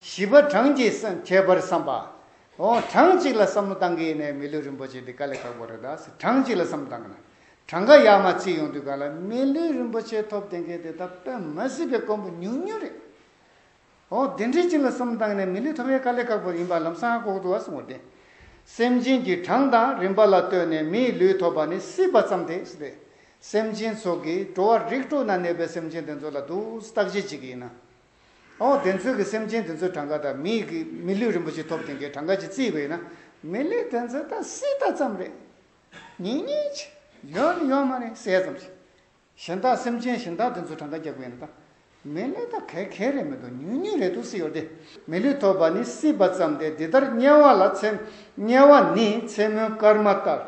བཞི་པ་གྲངས་ཀྱིས་ཁྱད་པར་བསམ་པ། ཨོ། གྲངས་གཅིག་ལ་བསམ་བློ་བཏང་གི་ཡིན་ནའི་མི་ལུས་རིན་པོ་ཆེ་འདི་དཀའ་ལས་ཁག་པོ་རེད་ད་ཟེར་གྲངས་གཅིག་ལ་བསམ་བློ་བཏང་གི་ན། གྲངས་ཀ་ཡག་མ་གཅིག་ཡོང་དུས་ག་ལ་མི་ལུས་རིན་པོ་ཆེ་ཐོབ་བསྡད་མཁན་དེ་དག་དཔེ་མ་སྲིད་པའི་དཀོན་པོ་ཉུང་ཉུང་རེད། ཨོ། དེ་འདྲའི་གཅིག་ལ་བསམ་བློ་བཏང་གི་ན་མི་ལུས་ཐོབ་ཡ་དཀའ་ལས་ཁག་པོ་ཡིན་པ་ལམ་སང་ལྐོག་ཏུ་བ་སོང་བ་རེད། སེམས་ཅན་གྱི་གྲངས་དང་རིན་པ་ལ་ལྟོས་ནས་མི་ལུས་ཐོབ་པ་ནི་སྲིད་པ་ཙམ་དེ་རེད། སེམས་ཅན་ཚོགས་ཀྱིས་འགྲོ་བ་རིགས་དྲུག་ན་གནས་པའི་སེམས་ཅན་དེ་ཚོ་ལ་དུག་བརྟག་དཔྱད་བྱེད་ཀྱི་ཡིན་ན། ཨོ། བདེན་རྫུན་གྱི་སེམས་ཅན་དེ་ཚོའི་གྲངས་ཀ་དང་མི་གི་མི་ལུས་རིན་པོ་ཆེ་ཐོབ་ཐེངས་ཀའི་གྲངས་ཀ་གཅིག་བརྩིས་བས་ན། མི་ལུས་དེ་ཚོའི་དང་སྲིད་ད་ཙམ་རེད། ཉིན་གཉིས་ཆ། ཡོད་ནི་ཡོད་མ་རེད་གསལ་ཙམ་ཞིག། གཞན་དག་སེམས་ཅན་གཞན་དག་དེ་ཚོའི་གྲངས་ཀ་རྒྱག་བས་ན་ད། མི་ལུས་ད་གལ་གལ་རེད་མི་འདུག་ཉུང་ཉུང་རེད་འདུག་སྲིད་ཡོད་དེ། མི་ལུས་ཐོབ་པ་ནི་སྲིད་པ་ཙམ་དེ་འདི་ལྟར་དམྱལ་བ་ལ་ཚེ། དམྱལ་བ་ནི་མཚན་མོའི་སྐར་མ་ལྟར།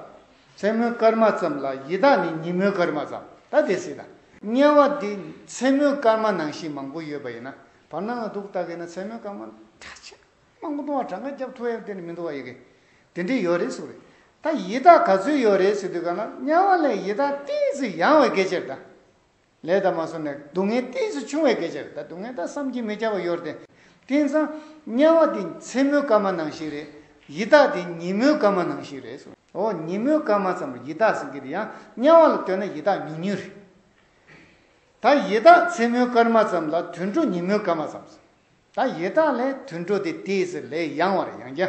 མཚན་མོའི་སྐར་མ་ཙམ་ལ་ཡི་དྭགས་ནི་ཉིན་མོའི་སྐར་མ་ཙམ་ད་དེ་སྲིད་དང། དམྱལ་བ་འདི་མཚན་མོའི་སྐར་མ་ནང་བཞིན་མང་པོ་ཡོད་པ་ཡིན་ན་བར་སྣང་ལ་འདུག་ལྟ་གིན་ན་མཚན་མོའི་སྐར་མ་ཁྲག་ཆེན་མང་པོ་འདུག་ང་གྲངས་ཀ་རྒྱབ་ཐུ་ཡང་དེ་ནི་མི་འདུག་བ་ཡི་གེ་དེ་འདྲས་ཡོད་རེད་སུ་རེད་ད་ཡི་དྭགས་ག་ཚོད་ཡོད་རེད་ཟེར་དུས་གང་ལ་དམྱལ་བ་ལས་ཡི་དྭགས་ཏིང་ཚིག་ཡང་བའི་གེ་ཆེར་ད། ལས་དང་མ་སོགས་ནས་སྡུག་བསྔལ་གཏིང་སུ་ཆུང་བས་གལ་ཆེར་ད་སྡུག་བསྔལ་དག་བསམ་གྱིས་མི་ཁྱབ་པ་གཡོར་ཏེ། དེང་སང། དམྱལ་བ་འདི་མཚན་མོའི་སྐར་མ་ནང་ཞིག་རེད། ཡི་དྭགས་འདི་ཉིན་མོའི་སྐར་མ་ནང་ཞིག་རེད། འོ་ཉིན་མོའི་སྐར་མ་ཙམ་རེད་ཡི་དྭགས་ཟེར་གྱི་དེ་ཡང་དམྱལ་བ་ལ་ལྟོས་ན་ཡི་དྭགས་ཉུང་ཉུང་རེད། ད་ཡི་དྭགས་མཚན་མོའི་སྐར་མ་ཙམ་ལ་དུད་འགྲོ་ཉིན་མོའི་སྐར་མ་ཙམ་ཟེར། ད་ཡི་དྭགས་ལས་དུད་འགྲོ་དེ་དེས་ལས་ཡང་བར་ཡང་རྒྱ།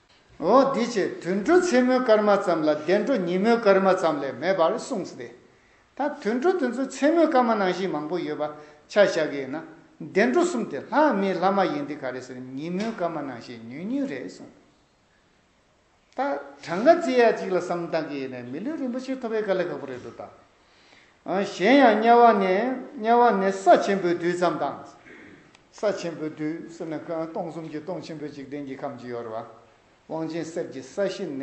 འོ་འདི་ཅེས་དུད་འགྲོ་མཚན་མོའི་སྐར་མ་ཙམ་ལ་བདེ་འགྲོ་ཉིན་མོའི་སྐར་མ་ཙམ་ལས་མེད་པར་གསུངས་ཏེ། ད་དུད་འགྲོ་དེ་ཚོའི་མཚན་མོའི་སྐར་མ་ནང་བཞིན་མང་པོ་ཡོད་པ་ཆ་བཞག་གི་ཡིན་ན། བདེ་འགྲོ་གསུམ་དེ་ལྷ་མིའི་ལྷ་མ་ཡིན་ཏེ་ག་རེ་ཟེར་ཉིན་མོའི་སྐར་མ་ནང་བཞིན་ཉུང་ཉུང་རེད་གསུངས། ད་གྲངས་ཀ་རྩིས་ཡ་གཅིག་ལ་བསམ་བཏང་གི་ཡིན་ནས་མི་ལུས་རིན་པོ་ཆེ་ཐོབ་པའི་དཀའ་ལས་ཁག་པོ་རེད་འདུག་ད། གཞན་ཡང་དམྱལ་བ་ནས་དམྱལ་བ་ནས་ས་ཆེན་པོའི་རྡུལ་ཙམ་དང། ས་ཆེན་པོའི་རྡུལ་ཟེར་ན་སྟོང་གསུམ་གྱི་སྟོང་ཆེན་པོའི་འཇིག་རྟེན་གྱི་ཁམས་ཀྱི་ཡོལ་བ་དབང་ཆེན་གསེར་གྱི་ས་གཞི་ནས་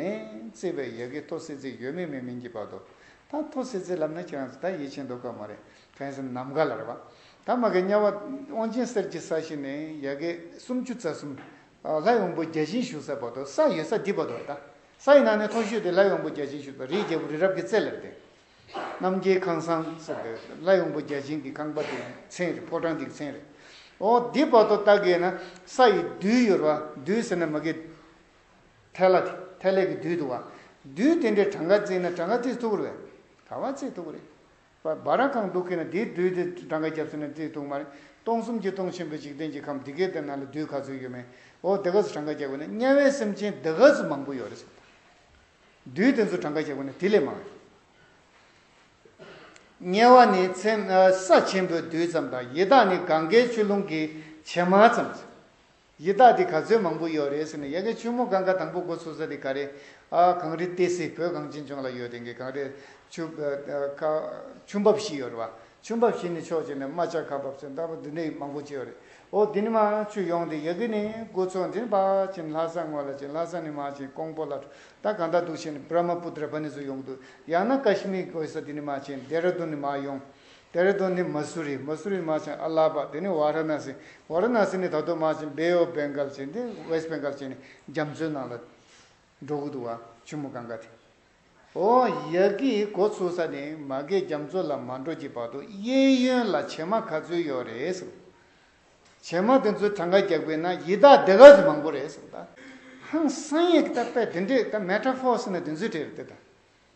བརྩིས་པའི་ཡལ་གའི་ཐོ་སེ་ཚིག་ཡོད་མེད་མེད་མིན་གྱི་བར་དུ། ད་ཐོ་སེ་ཚིག་ལབ་ན་ཁྱེད་རང་ཚོ་ད་ཡིད་ཆེས་འདོད་ཀ་མ་རེད་གང་སེམས་ནམ་མཁའ་ལ་རེད་བ། ད་མ་གི་དམྱལ་བ་དབང་ཆེན་གསེར་གྱི་ས་གཞི་ནས་ཡལ་གའི་སུམ་ཅུ་རྩ་གསུམ། ལྷ་ཡོང་བུ་བརྒྱ་བྱིན་བཞུགས་ས་བར་དོ་ས་ཡོད་ས་འདི་བར་དོ་ད་ས་ཡི་ནང་ནས་ཐོ་ཤོད་དེ་ལྷ་ཡོང་བུ་བརྒྱ་བྱིན་བཞུགས་པ་རིའི་རྒྱལ་པོ་རི་རབ་ཀྱི་རྩེ་ལ་བསྟན། རྣམ་རྒྱལ་ཁང་བཟང་ཟེར་དེ་ལྷ་ཡོང་བུ་བརྒྱ་བྱིན་གྱི་ཁང་པ་དེའི་མཚན་རེད་ཕོ་བྲང་དེ་གི་མཚན་རེད། ཨོ་འདི་བར་དོ་ད་གའི་ན་ས་ཡི་རྡུལ་ཡོད་ར་བ་རྡུལ་ཟེར་ན་མ་གའི་ཐལ་ལ་དེ་ཐལ་ལེ་གི་རྡུལ་དུ་བ་རྡུལ་དེ་འདྲའི་གྲངས་ཀ་བརྩིས་ན་གྲངས་ཀ་བརྩིས་ཐུབ་པོ་རེད། ག་བ་བརྩིས་ཐུབ་པོ་རེད། བ་ར་གང་འདུག་གིན་ན་དེའི་རྡུལ་དེ་བྲང་ཁ་རྒྱབ་ཟིན་ན་རྩིས་འདུག་མ་རེད། སྟོང་གསུམ་གྱི་སྟོང་ཆེན་པོའི་འཇིག་རྟེན་གྱི་ཁམས་འདི་གའི་དེ་ན་ལ་རྡུལ་ག་ཚོད་ཡོད་མེད་འོ་དེ་ག་ཚོད་བྲང་ཁ་རྒྱག་དགོས་ན་དམྱལ་བའི་སེམས་ཅན་དེ་ག་ཚོད་མང་པོ་ཡོད་རེད་བསམ་དང། རྡུལ་དེ་ཚོ་བྲང་ཁ་རྒྱག་དགོས་ན་དེ་ལས་མང་ཡོད། དམྱལ་བ་ནི་ཚེམས་ས་ཆེན་པོའི་རྡུལ་ཙམ་དང་ཡི་དྭགས་ནི་གངྒཱའི་ཆུ་ཀླུང་གི་བྱེ་མ་ཙམ། ཡི་དྭགས་འདི་ག་ཚོད་མང་པོ་ཡོད་རེད་ཟེར་ནས་ཡ་གི་ཆུ་མོ་སྒང་ག་དང་པོ་འགོ་ཚུགས་ས་འདི་ག་རེད་ཨ། གངས་རི་ཏི་སི་བོད་གངས་ཅན་ལྗོངས་ལ་ཡོད་དེ་གི་གངས་རི། ཆུ། ཁ། ཆུ་འབབ་བཞི་ཡོད་རེད་བ། ཆུ་འབབ་བཞི་ནི་ཕྱོགས་གཅིག་ནས་རྨ་བྱ་ཁ་འབབ་ཚད་ལྟ་བུ་འདི་འདྲའི་མང་པོ་བྱས་ཡོད་རེད། འོ་འདི་ནི་རྨ་ཆུ་ཡོངས་འདི་ཡ་གི་ནི་འགོ་ཚུགས་འདི་ནི་པ་ཅིན་ལྷ་ས་ངོས་ལ་ཅིན་ལྷ་ས་ནི་རྨ་ཆེན་ཀོང་པོ་ལ་ད་གང་ད་འདུག་བྱས་ནས་བྷརྨ་པུ་ཏྲ་བྷ་ནི་ཟུ་ཡོང་གི་འདུག་ཡང་ན་ཀ་ཤི་མི་གོས་ས་འདི་ནི་རྨ་ཆེན་རྡེ་ར་རྡུན་ནི་མ་ཡོང། ཏེ་རེ་དོ་ནི་མ་སུ་རི་མ་སུ་རི་དམག་ཆེན་ཨ་ལ་པ་དེ་ནི་བྷ་ར་ན་སི་བྷ་ར་ན་སི་ནི་ད་དུང་དམག་ཆེན་བྷེ་ཨོ་བྷེ་འགལ་ཆེན་དེ West Bengal ཆེན་ནི་རྒྱ་མཚོའི་ནང་ལ་འགྲོ་གི་འདུག་བ་ཆུ་མོ་གངྒ་དེ་ཨོ་ཡ་གིས་འགོ་ཚུགས་ས་ནི་མ་གེ་རྒྱ་མཚོ་ལ་མ་འགྲོ་གྱི་བར་དུ་གཡས་གཡོན་ལ་བྱེ་མ་ག་ཚོད་ཡོད་རེད་གསུངས། བྱེ་མ་དེ་ཚོའི་གྲངས་ཀ་རྒྱག་པའི་ན་ཡི་དྭགས་སྡེ་ག་ཚོད་མང་པོ་རེད་གསུངས། ཧང་སངས་ཡིག་ད་པས་དེ་འདྲས་ད Metaphors ནི་དེ་ཚོའི་གྲས་རེད་དེ་ད།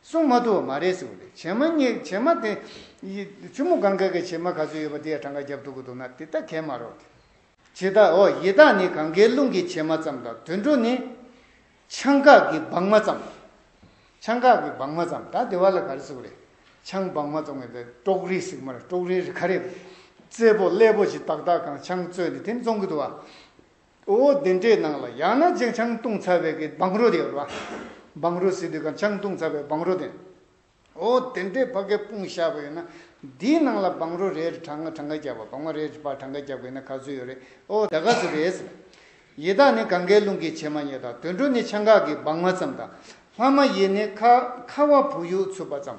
སྲུང་མ་དུ་བ་མ་རེད་ཟེར་བ་ལས་བྱེ་མ་སྙེག་བྱེ་མ་དེ། ཆུ་མོ་གང་ག་གི་བྱེ་མ་ག་ཚོད་ཡོད་པ་དེ་ཡང་གྲངས་ཀ་རྒྱབ་ཐུག་གི་འདུག་ན་དེ་ལྟ་གས་མ་རོགས་ཏེ། བྱེ་ད་འོ་ཡེ་དག་ནི་གང་གའི་ཀླུང་གི་བྱེ་མ་ཙམ་དང་དུད་འགྲོ་ནི། ཆང་འགག་གི་སྦང་མ་ཙམ། ཆང་འགག་གི་སྦང་མ་ཙམ་ད་དེ་བ་ལ་ག་རེ་ཟེར་བ་རེད། ཆང་སྦང་མ་ཙམ་གས་ད་ཀྲོག་རིལ་ཟིག་མ་རེད་ཀྲོག་རིལ་རེད་ག་རེ། རྩེད་པོ་ཀླད་པོ་ཅིག་ཏག་ཏག་གང་ཆང་བཙོས་ནས་དེ་ནི་བཙོང་གི་འདུག་བ། ཨོ་བོ་བདུན་སྤྲེའི་ནང་ལ་ཡང་ན་རྗེ་ཆང་བཏུང་ཚར་བའི་གི་སྦང་རོ་དེ་ཡོད་པ། སྦང་རོ་ཟེར་དུས་ཀྱང་ཆང་བཏུང་ཚར་བའི་སྦང་རོ་དེ། ཨོ་བོ་བདུན་སྤྲེའི་ཕ་གའི་དཔུང་ཤར་བ་ཡོད་ན། དེའི་ནང་ལ་སྦང་རོ་རེ་རེ་གྲངས་གྲངས་ཀ་རྒྱབ་པ་སྦང་མ་རེ་རེ་པར་གྲངས་ཀ་རྒྱབ་དགོས་ན་ག་ཚོད་ཡོད་རེད་ཨོ་ད་ག་ཚོད་རེད། ཡི་དྭགས་ནི་གངྒཱའི་ཀླུང་གི་བྱེ་མ་སྙེད་དང་དུད་འགྲོ་ནི་ཆང་འགག་གི་སྦང་མ་ཙམ་དང། ལྷ་མ་ཡིན་ནི་ཁ་ཁ་བ་བུ་ཡུག་འཚུབ་པ་ཙམ།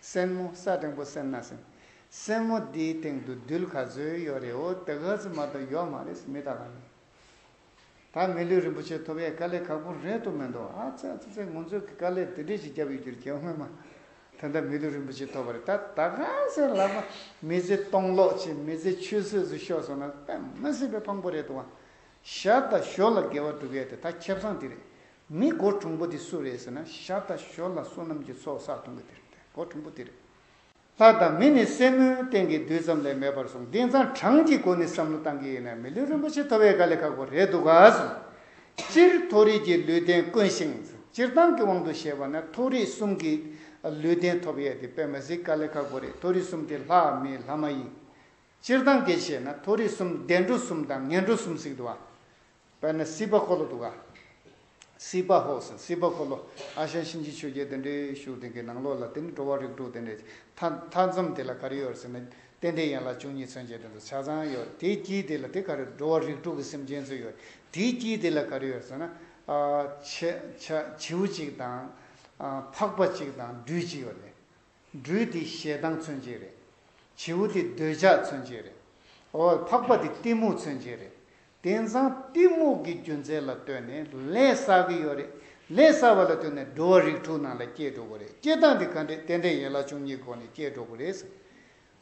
སེན་མོ་ས་སྟེང་པོ་སེན་ན་སེན། སེན་མོ་འདིའི་སྟེང་དུ་རྡུལ་ག་ཚོད་ཡོད་རེད་འོ་དེ་ག་ཚོད་མ་ཏོག་ཡོད་མ་རེད་མི་ད་ལ་ཡིན། ད་མི་ལུས་རིན་པོ་ཆེ་ཐོབ་ཡས་དཀའ་ལས་ཁག་པོ་རེད་དོ་མི་འདུག་ཨ་ཙི་ཨ་ཙི་ཙི་ངོ་མཚོས་ཀྱི་དཀའ་ལས་དེ་འདྲས་ཞིག་རྒྱབ་ཡོད་རྒྱུར་གྱིས་སྔོན་མ་དེ་འདྲ་མི་ལུས་རིན་པོ་ཆེ་ཐོབ་པ་རེད་ད་ད་ག་ཚོད་ལགས་པ་མི་ཚེ་སྟོང་ལོག་ཅིག་མི་ཚེ་ཆུད་ཟོས་སུ་ཤོར་སོང་ན་དཔེ་མི་སྲིད་པའི་ཕངས་པོ་རེད་འདུག་བ་ཞབས་དང་ཞོ་ལ་དགེ་བ་བསྒྲུབ་ཡས་དེ་ད་ཁྱབ་སངས་དེ་རེད་མི་སྒོ་གྲོང་པོ་དེ་སུ་རེད་ཟེར་ན་ཤར་དང་ཞོར་ལ་བསོད་ནམས་ཀྱི་ཚོགས་བསགས་གཏོང་གི་དེ་རེད་དེ་སྒོ་གྲོང་པོ་དེ་རེད། ལྷ་དང་མི་ནི་སེན་མོའི་སྟེང་གི་རྡུལ་ཙམ་ལས་མེད་པར་སོང་དེང་སང་གྲངས་ཀྱི་སྒོ་ནས་བསམ་བློ་བཏང་གི་ཡིན་ན་མི་ལུས་རིན་པོ་ཆེ་མཐོ་བས་དགའ་ལས་ཁག་པོ་རེད་འདུག་ག་སོང་སྤྱིར་མཐོ་རིས་ཀྱི་ལུས་རྟེན་དཀོན་ཞིང་སྤྱིར་བཏང་གི་དབང་དུ་བྱས་པ་ན་མཐོ་རིས་གསུམ་གྱི་ལུས་རྟེན་ཐོབ་ཡས་དེ་པད་མ་གཟིགས་དཀའ་ལས་ཁག་པོ་རེད་མཐོ་རིས་གསུམ་དེ་ལྷ་མི་ལྷ་མ་ཡིན། སྤྱིར་བཏང་གི་བྱས་ན་མཐོ་རིས་གསུམ་བདེ་འགྲོ་གསུམ་དང་ངན་འགྲོ་གསུམ་གཟིགས་འདུག་ག་དཔལ་ནི་སྲིད་པ་འཁོར་ལོ་དུ་ག། སྲིད་པ་ཧོ། སྲིད་པ་འཁོར་ལོ་ཨ་ཤ་གཤིན་རྗེ་ཆོས་རྒྱལ་དེ་འདྲའི་ཤུགས་དེང་གི་ནང་ལོགས་ལ་དེ་ནི་འགྲོ་བ་རིགས་དྲུག་དེ་འདྲའི་མཐའ་མཚམས་དེ་ལ་ག་རེ་ཡོད་ཟེར་ན་རྟེན་དེའི་ཡན་ལག་བཅུ་གཉིས་མཚོན་བྱེད་དོན་དུ་ཆ་ཚང་ཡོད་དེའི་དཀྱིལ་དེ་ལ་དེ་ག་རེ་འགྲོ་བ་རིགས་དྲུག་གི་སེམས་ཅན་ཚོ་ཡོད་དེའི་དཀྱིལ་དེ་ལ་ག་རེ་ཡོད་ཟེར་ན། བྱིའུ་གཅིག་དང། ཕག་པ་གཅིག་དང་སྦྲུལ་གཅིག་ཡོད་རེད། སྦྲུལ་དེ་ཞེ་སྡང་མཚོན་བྱེད་རེད། བྱིའུ་དེ་འདོད་ཆགས་མཚོན་བྱེད་རེད། འོ། ཕག་པ་དེ་གཏི་མུག་མཚོན་བྱེད་རེད། དེང་སང་གཏི་མུག་གི་རྒྱུ་མཚན་ལ་ལྟོས་ནས་ལས་བསགས་ཀྱི་ཡོད་རེད། ལས་བསགས་པ་ལ་ལྟོས་ནས་འགྲོ་བ་རིགས་དྲུག་ནང་ལ་སྐྱེས་འགྲོ་དགོས་རེད་སྐྱེས་སྟངས་དེ་ག་འདྲས་དེ་འདྲས་ཡན་ལག་བཅུ་གཉིས་སྒོ་ནས་སྐྱེས་འགྲོ་དགོས་རེད།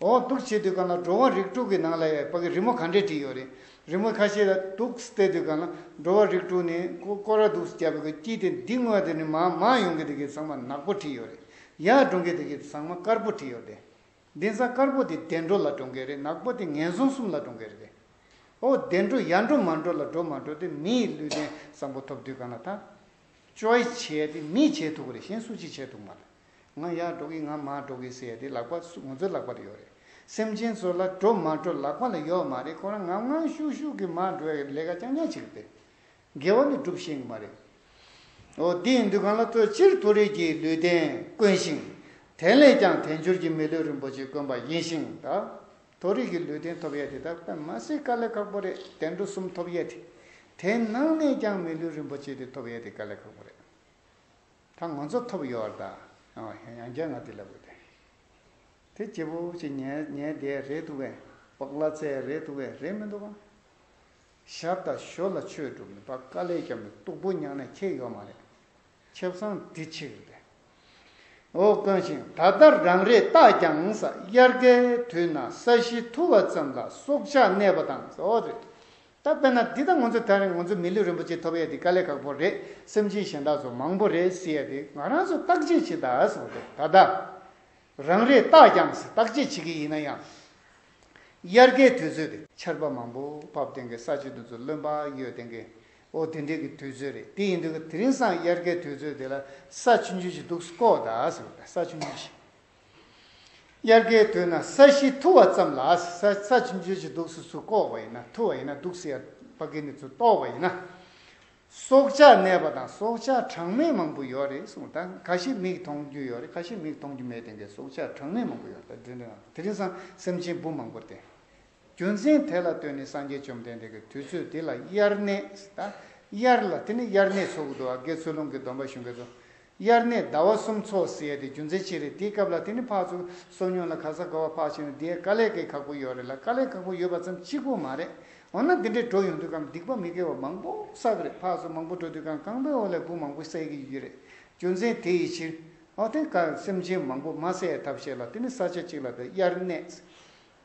འོག་གདུགས་བྱེད་དུས་གང་ལ་འགྲོ་བ་རིགས་དྲུག་གི་ནང་ལ་ཡ་བ་གི་རི་མོ་ག་འདྲས་བྲིས་ཡོད་རེད། རི་མོ་ཁ་ཤས་ལ་གདུགས་བསྟད་དུས་གང་ལ་འགྲོ་བ་རིགས་དྲུག་ནི་ཀོ་ར་གདུགས་སུ་བརྒྱབ་པའི་གོས་དཀྱིལ་དེ་འདི་དངོས་དེ་ནི་མ་མ་ཡོང་གི་དེ་གི་ཚང་མ་ནག་པོ་བྲིས་ཡོད་རེད། ཡར་འགྲོང་གི་དེ་གི་ཚང་མ་དཀར་པོ་བྲིས་ཡོད་རེད། གདན་ས་དཀར་པོ་དེ་བདེ་འགྲོ་ལ་འགྲོ་མཁན་རེད་ནག་པོ་དེ་ངན་སོང་གསུམ་ལ་འགྲོ་མཁན་རེད། ཨོ་བདེ་འགྲོ་ཡར་འགྲོ་མར་འགྲོ་ལ་འགྲོ་མ་འགྲོ་དེ་མི་ཡི་ལུས་རྟེན་བཟང་པོ་ཐོབ་དུས་གང་ལ་ཐག། Choice བྱེད་དེ་མིས་བྱེད་ཐུག་གི་རེད་གཞན་སུ་ཅིས་བྱེད་ཐུག་མ་རེད། ང་ཡར་འགྲོ་གི་ང་མར་འགྲོ་གི་ཟེར་དེ་ལག་པ་སུ་ང་ཚོའི་ལག་པ་ལ་ཡོད་རེད། སེམས་ཅན་ཚོ་ལ་འགྲོ་མ་འགྲོ་ལག་པ་ལ་ཡོད་མ་རེད་ཁོ་རང་ངམ་ངམ་ཤུགས་ཤུགས་ཀྱི་མར་འགྲོ་ཡ་ལས་ཀ་རྐྱང་རྐྱང་བྱེད་ཀྱི་རེད། དགེ་བ་ནི་སྒྲུབ་ཤེས་ངེས་པ་རེད། འོ་འདི་ཡིན་དུས་གང་ལ་ཐོས་ཕྱིར་དུ་རིགས་ཀྱི་ལུས་རྟེན་དཀོན་ཞིང། དེ་ལས་ཀྱང་དལ་འབྱོར་གྱི་མི་ལུས་རིན་པོ་ཆེ་དཀོན་པ་ཡིན་ཞིང། ད་དོ་རིགས་ཀྱི་ལུས་རྟེན་ཐོབ་ཡས་དེ་དག་པདྨ་སེའི་དཀའ་ལས་ཁག་པོ་རེད་དེ་འགྲོ་གསུམ་ཐོབ་ཡས་དེ། དེ་ནང་ནས་ཀྱང་མི་ལུས་རིན་པོ་ཆེ་དེ་ཐོབ་ཡས་དེ་དཀའ་ལས་ཁག་པོ་རེད། ད་ང་ཚོ་ཐོབ་ཡོད་བར་ད་ཡང་བསྐྱར་ང་དེ་ལ་དགོས་ཏེ། དེ་སྐྱེས་བུ་ཅིག་ཉལ་ཉལ་བསྡད་རེད་འདུག་བས། བག་ལ་ཚལ་རེད་འདུག་བས་རེད་མི་འདུག་གམ། ཞར་དང་ཞོར་ལ་ཆོས་སྒྲུབ་མི་ཕ་ཀ་ལས་ཀྱང་མི་སྟུག་པོ་མྱངས་ནས་ཁྱེད་ཡོད་མ་རེད། ཁྱེད་བཟང་འདི་ཕྱིར་འདི། འོ་དཀོན་ཞིང་ད་ལྟ་རང་རེས་བརྟགས་ཀྱང་ས་དབྱར་ཁའི་དུས་ན་ས་གཞི་འཐུ་བ་ཙམ་ལ་སྲོག་ཆགས་གནས་པ་དང་ཟ་བ་རེད། ད་དཔེར་ན་འདི་ད་ང་ཚོ་ད་རེས་ང་ཚོ་མི་ལུས་རིན་པོ་ཆེ་ཐོབ་ཡས་འདི་དཀའ་ལས་ཁག་པོ་རེད་སེམས་ཅན་གཞན་དག་ཚོ་མང་པོ་རེད་སྲིད་ཡས་འདི་ང་རང་ཚོ་བརྟག་དཔྱད་བྱེད་དག་ཟེར་བ་རེད་ད་ལྟ་རང་རེས་བརྟགས་ཀྱང་ཟེར་བརྟག་དཔྱད་བྱེད་ཀྱི་ཡིན་ན་ཡང། དབྱར་ཁའི་དུས་ཚོད་རེད། ཆར་པ་མང་པོ་བབས་སྟེང་གི་ས་ཕྱི་དུ་ཚུར་རློན་པ་གཡོས་སྟེང་གི། ཨོ་དེ་འདྲའི་གི་དུས་ཚོད་རེད་དེ་ཡིན་དུས་དེ་རིང་སང་དབྱར་ཁའི་དུས་ཚོད་དེ་ལ་ས་ཆུ་འཇུ་བྱེད་འདུག་སྐོ་ད་ཟེར་བ་ལྟ་ས་ཆུ་འཇུ་བྱེད། དབྱར་ཁའི་དུས་ན་ས་གཞི་འཐུ་བ་ཙམ་ལ་ས་ཆུ་འཇུ་བྱེད་འདུག་སུ་ཚུར་བསྐོ་བ་ཡིན་ན་འཐུ་བ་ཡིན་ན་འདུག་སེ་ཡ་པ་ཀི་ནི་ཚུར་གཏོར་བ་ཡིན་ན། སྲོག་ཆགས་གནས་པ་དང་སྲོག་ཆགས་གྲངས་མེད་མང་པོ་ཡོད་རེད་གསུངས་ད་ག་ཞིག་མིག་མཐོང་རྒྱུ་ཡོད་རེད་ག་ཞིག་མིག་མཐོང་རྒྱུ་མེད་དེ་འདྲའི་སྲོག་ཆགས་གྲངས་མེད་མང་པོ་ཡོད་རེད་དེ་འདྲའི་ནང་དེ་རིང་སང་སེམས་ཅན་བུ་མང་པོ་དེ་རྒྱུ་མཚན་དེ་ལ་ལྟོས་ནས་སངས་རྒྱས་བཅོམ་ལྡན་འདས་ཀྱི་དུས་ཚོད་དེ་ལ་དབྱར་གནས་ད་དབྱར་ལ་དེ་ནི་དབྱར་གནས་ཚོགས་འདུ་བ་དགེ་ཚུལ་སློང་གི་སྡོམ་པ་གཞུང་གི་རྫོགས་དབྱར་གནས་ཟླ་བ་གསུམ་ཚོགས་ཟེར་ཡ་དེ་རྒྱུ་མཚན་ཅི་རེད་དེའི་སྐབས་ལ་དེ་ནི་ཕག་ཚུགས་གསོ་སྙོན་ལ་ག་ས་ག་བ་ཕག་བྱེད་ན་དེའི་དཀའ་ལས་ཀའི་ཁག་པོ་ཡོད་རེད་ལ་དཀའ་ལས་ཁག་པོ་ཡོད་པ་ཙམ་གཅིག་པོ་མ་རེད་འོ་ན་དེ་འདྲའི་འགྲོ་ཡོང་དུས་གམ་སྡིག་པ་མི་དགེ་བ་མང་པོ་བསགས་ཀི་རེད་ཕག་ཚུགས་མང་པོ་འགྲོ་དུས་གམ་རྐང་པའི་འོག་ལས་བུ་མང་པོ་བསད་ཀི་ཡོད་ཀི་རེད་རྒྱུ་མཚན་དེ་ཡི་ཕྱིར་ཨོ་དེ་ག་སེམས་ཅན་མང་པོ་མ་བསད་ཐབས་བྱེད་ལ་དེ་ནི་ས་ཆ་གཅིག་ལ་དེ་དབྱར་གནས་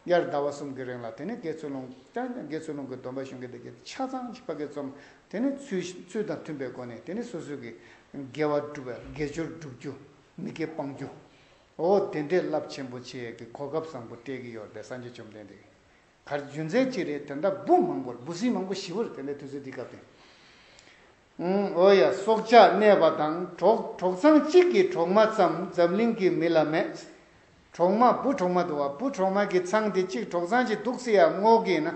དབྱར་ཟླ་བ་གསུམ་གྱི་རིང་ལ་དེ་ནས་དགེ་ཚུལ་སློང་ཀྱང་ཀྱང་དགེ་ཚུལ་སློང་གི་སྡོམ་པ་གཞུང་གི་སྡེ་བརྒྱད་ཆ་ཚང་གཅིག་པ་དགེ་རྩོམ་དེ་ནས་ཚུལ་དང་མཐུན་པའི་སྒོ་ནས་དེ་ནས་སོ་སོའི་དགེ་དགེ་བ་སྒྲུབ་པའི་དགེ་སྦྱོར་བསྒྲུབ་རྒྱུ་མི་དགེ་སྤང་རྒྱུའོ། དེ་འདྲའི་རླབས་ཆེན་པོ་ཆེ་གི་གོ་སྐབས་བཟང་པོ་སྤྲད་ཀྱི་ཡོད་པས་སངས་རྒྱས་བཅོམ་ལྡན་འདས་གར་རྒྱུན་མཚན་གཅིག་རེད་དེ་འདྲ་འབུ་མང་པོར་འབུ་སྲིན་མང་པོ་ཞི་བོར་དེ་འདྲའི་དུས་ཚོད་འདི་སྐབས་དེ། ཨོ་ཡ་སྲོག་ཆགས་གནས་པ་དང་གྲོགས་གྲོགས་ཚང་གཅིག་གི་གྲོག་མ་ཙམ་འཛམ་གླིང་གི་མི་ལ་མེད། གྲོག་མ་བུ་གྲོག་མ་འདུག་བ་བུ་གྲོག་མ་གི་ཚང་དེ་གཅིག་གྲོག་ཚང་གཅིག་འདུག་སེ་ཡ་སྔོག་གི་ན་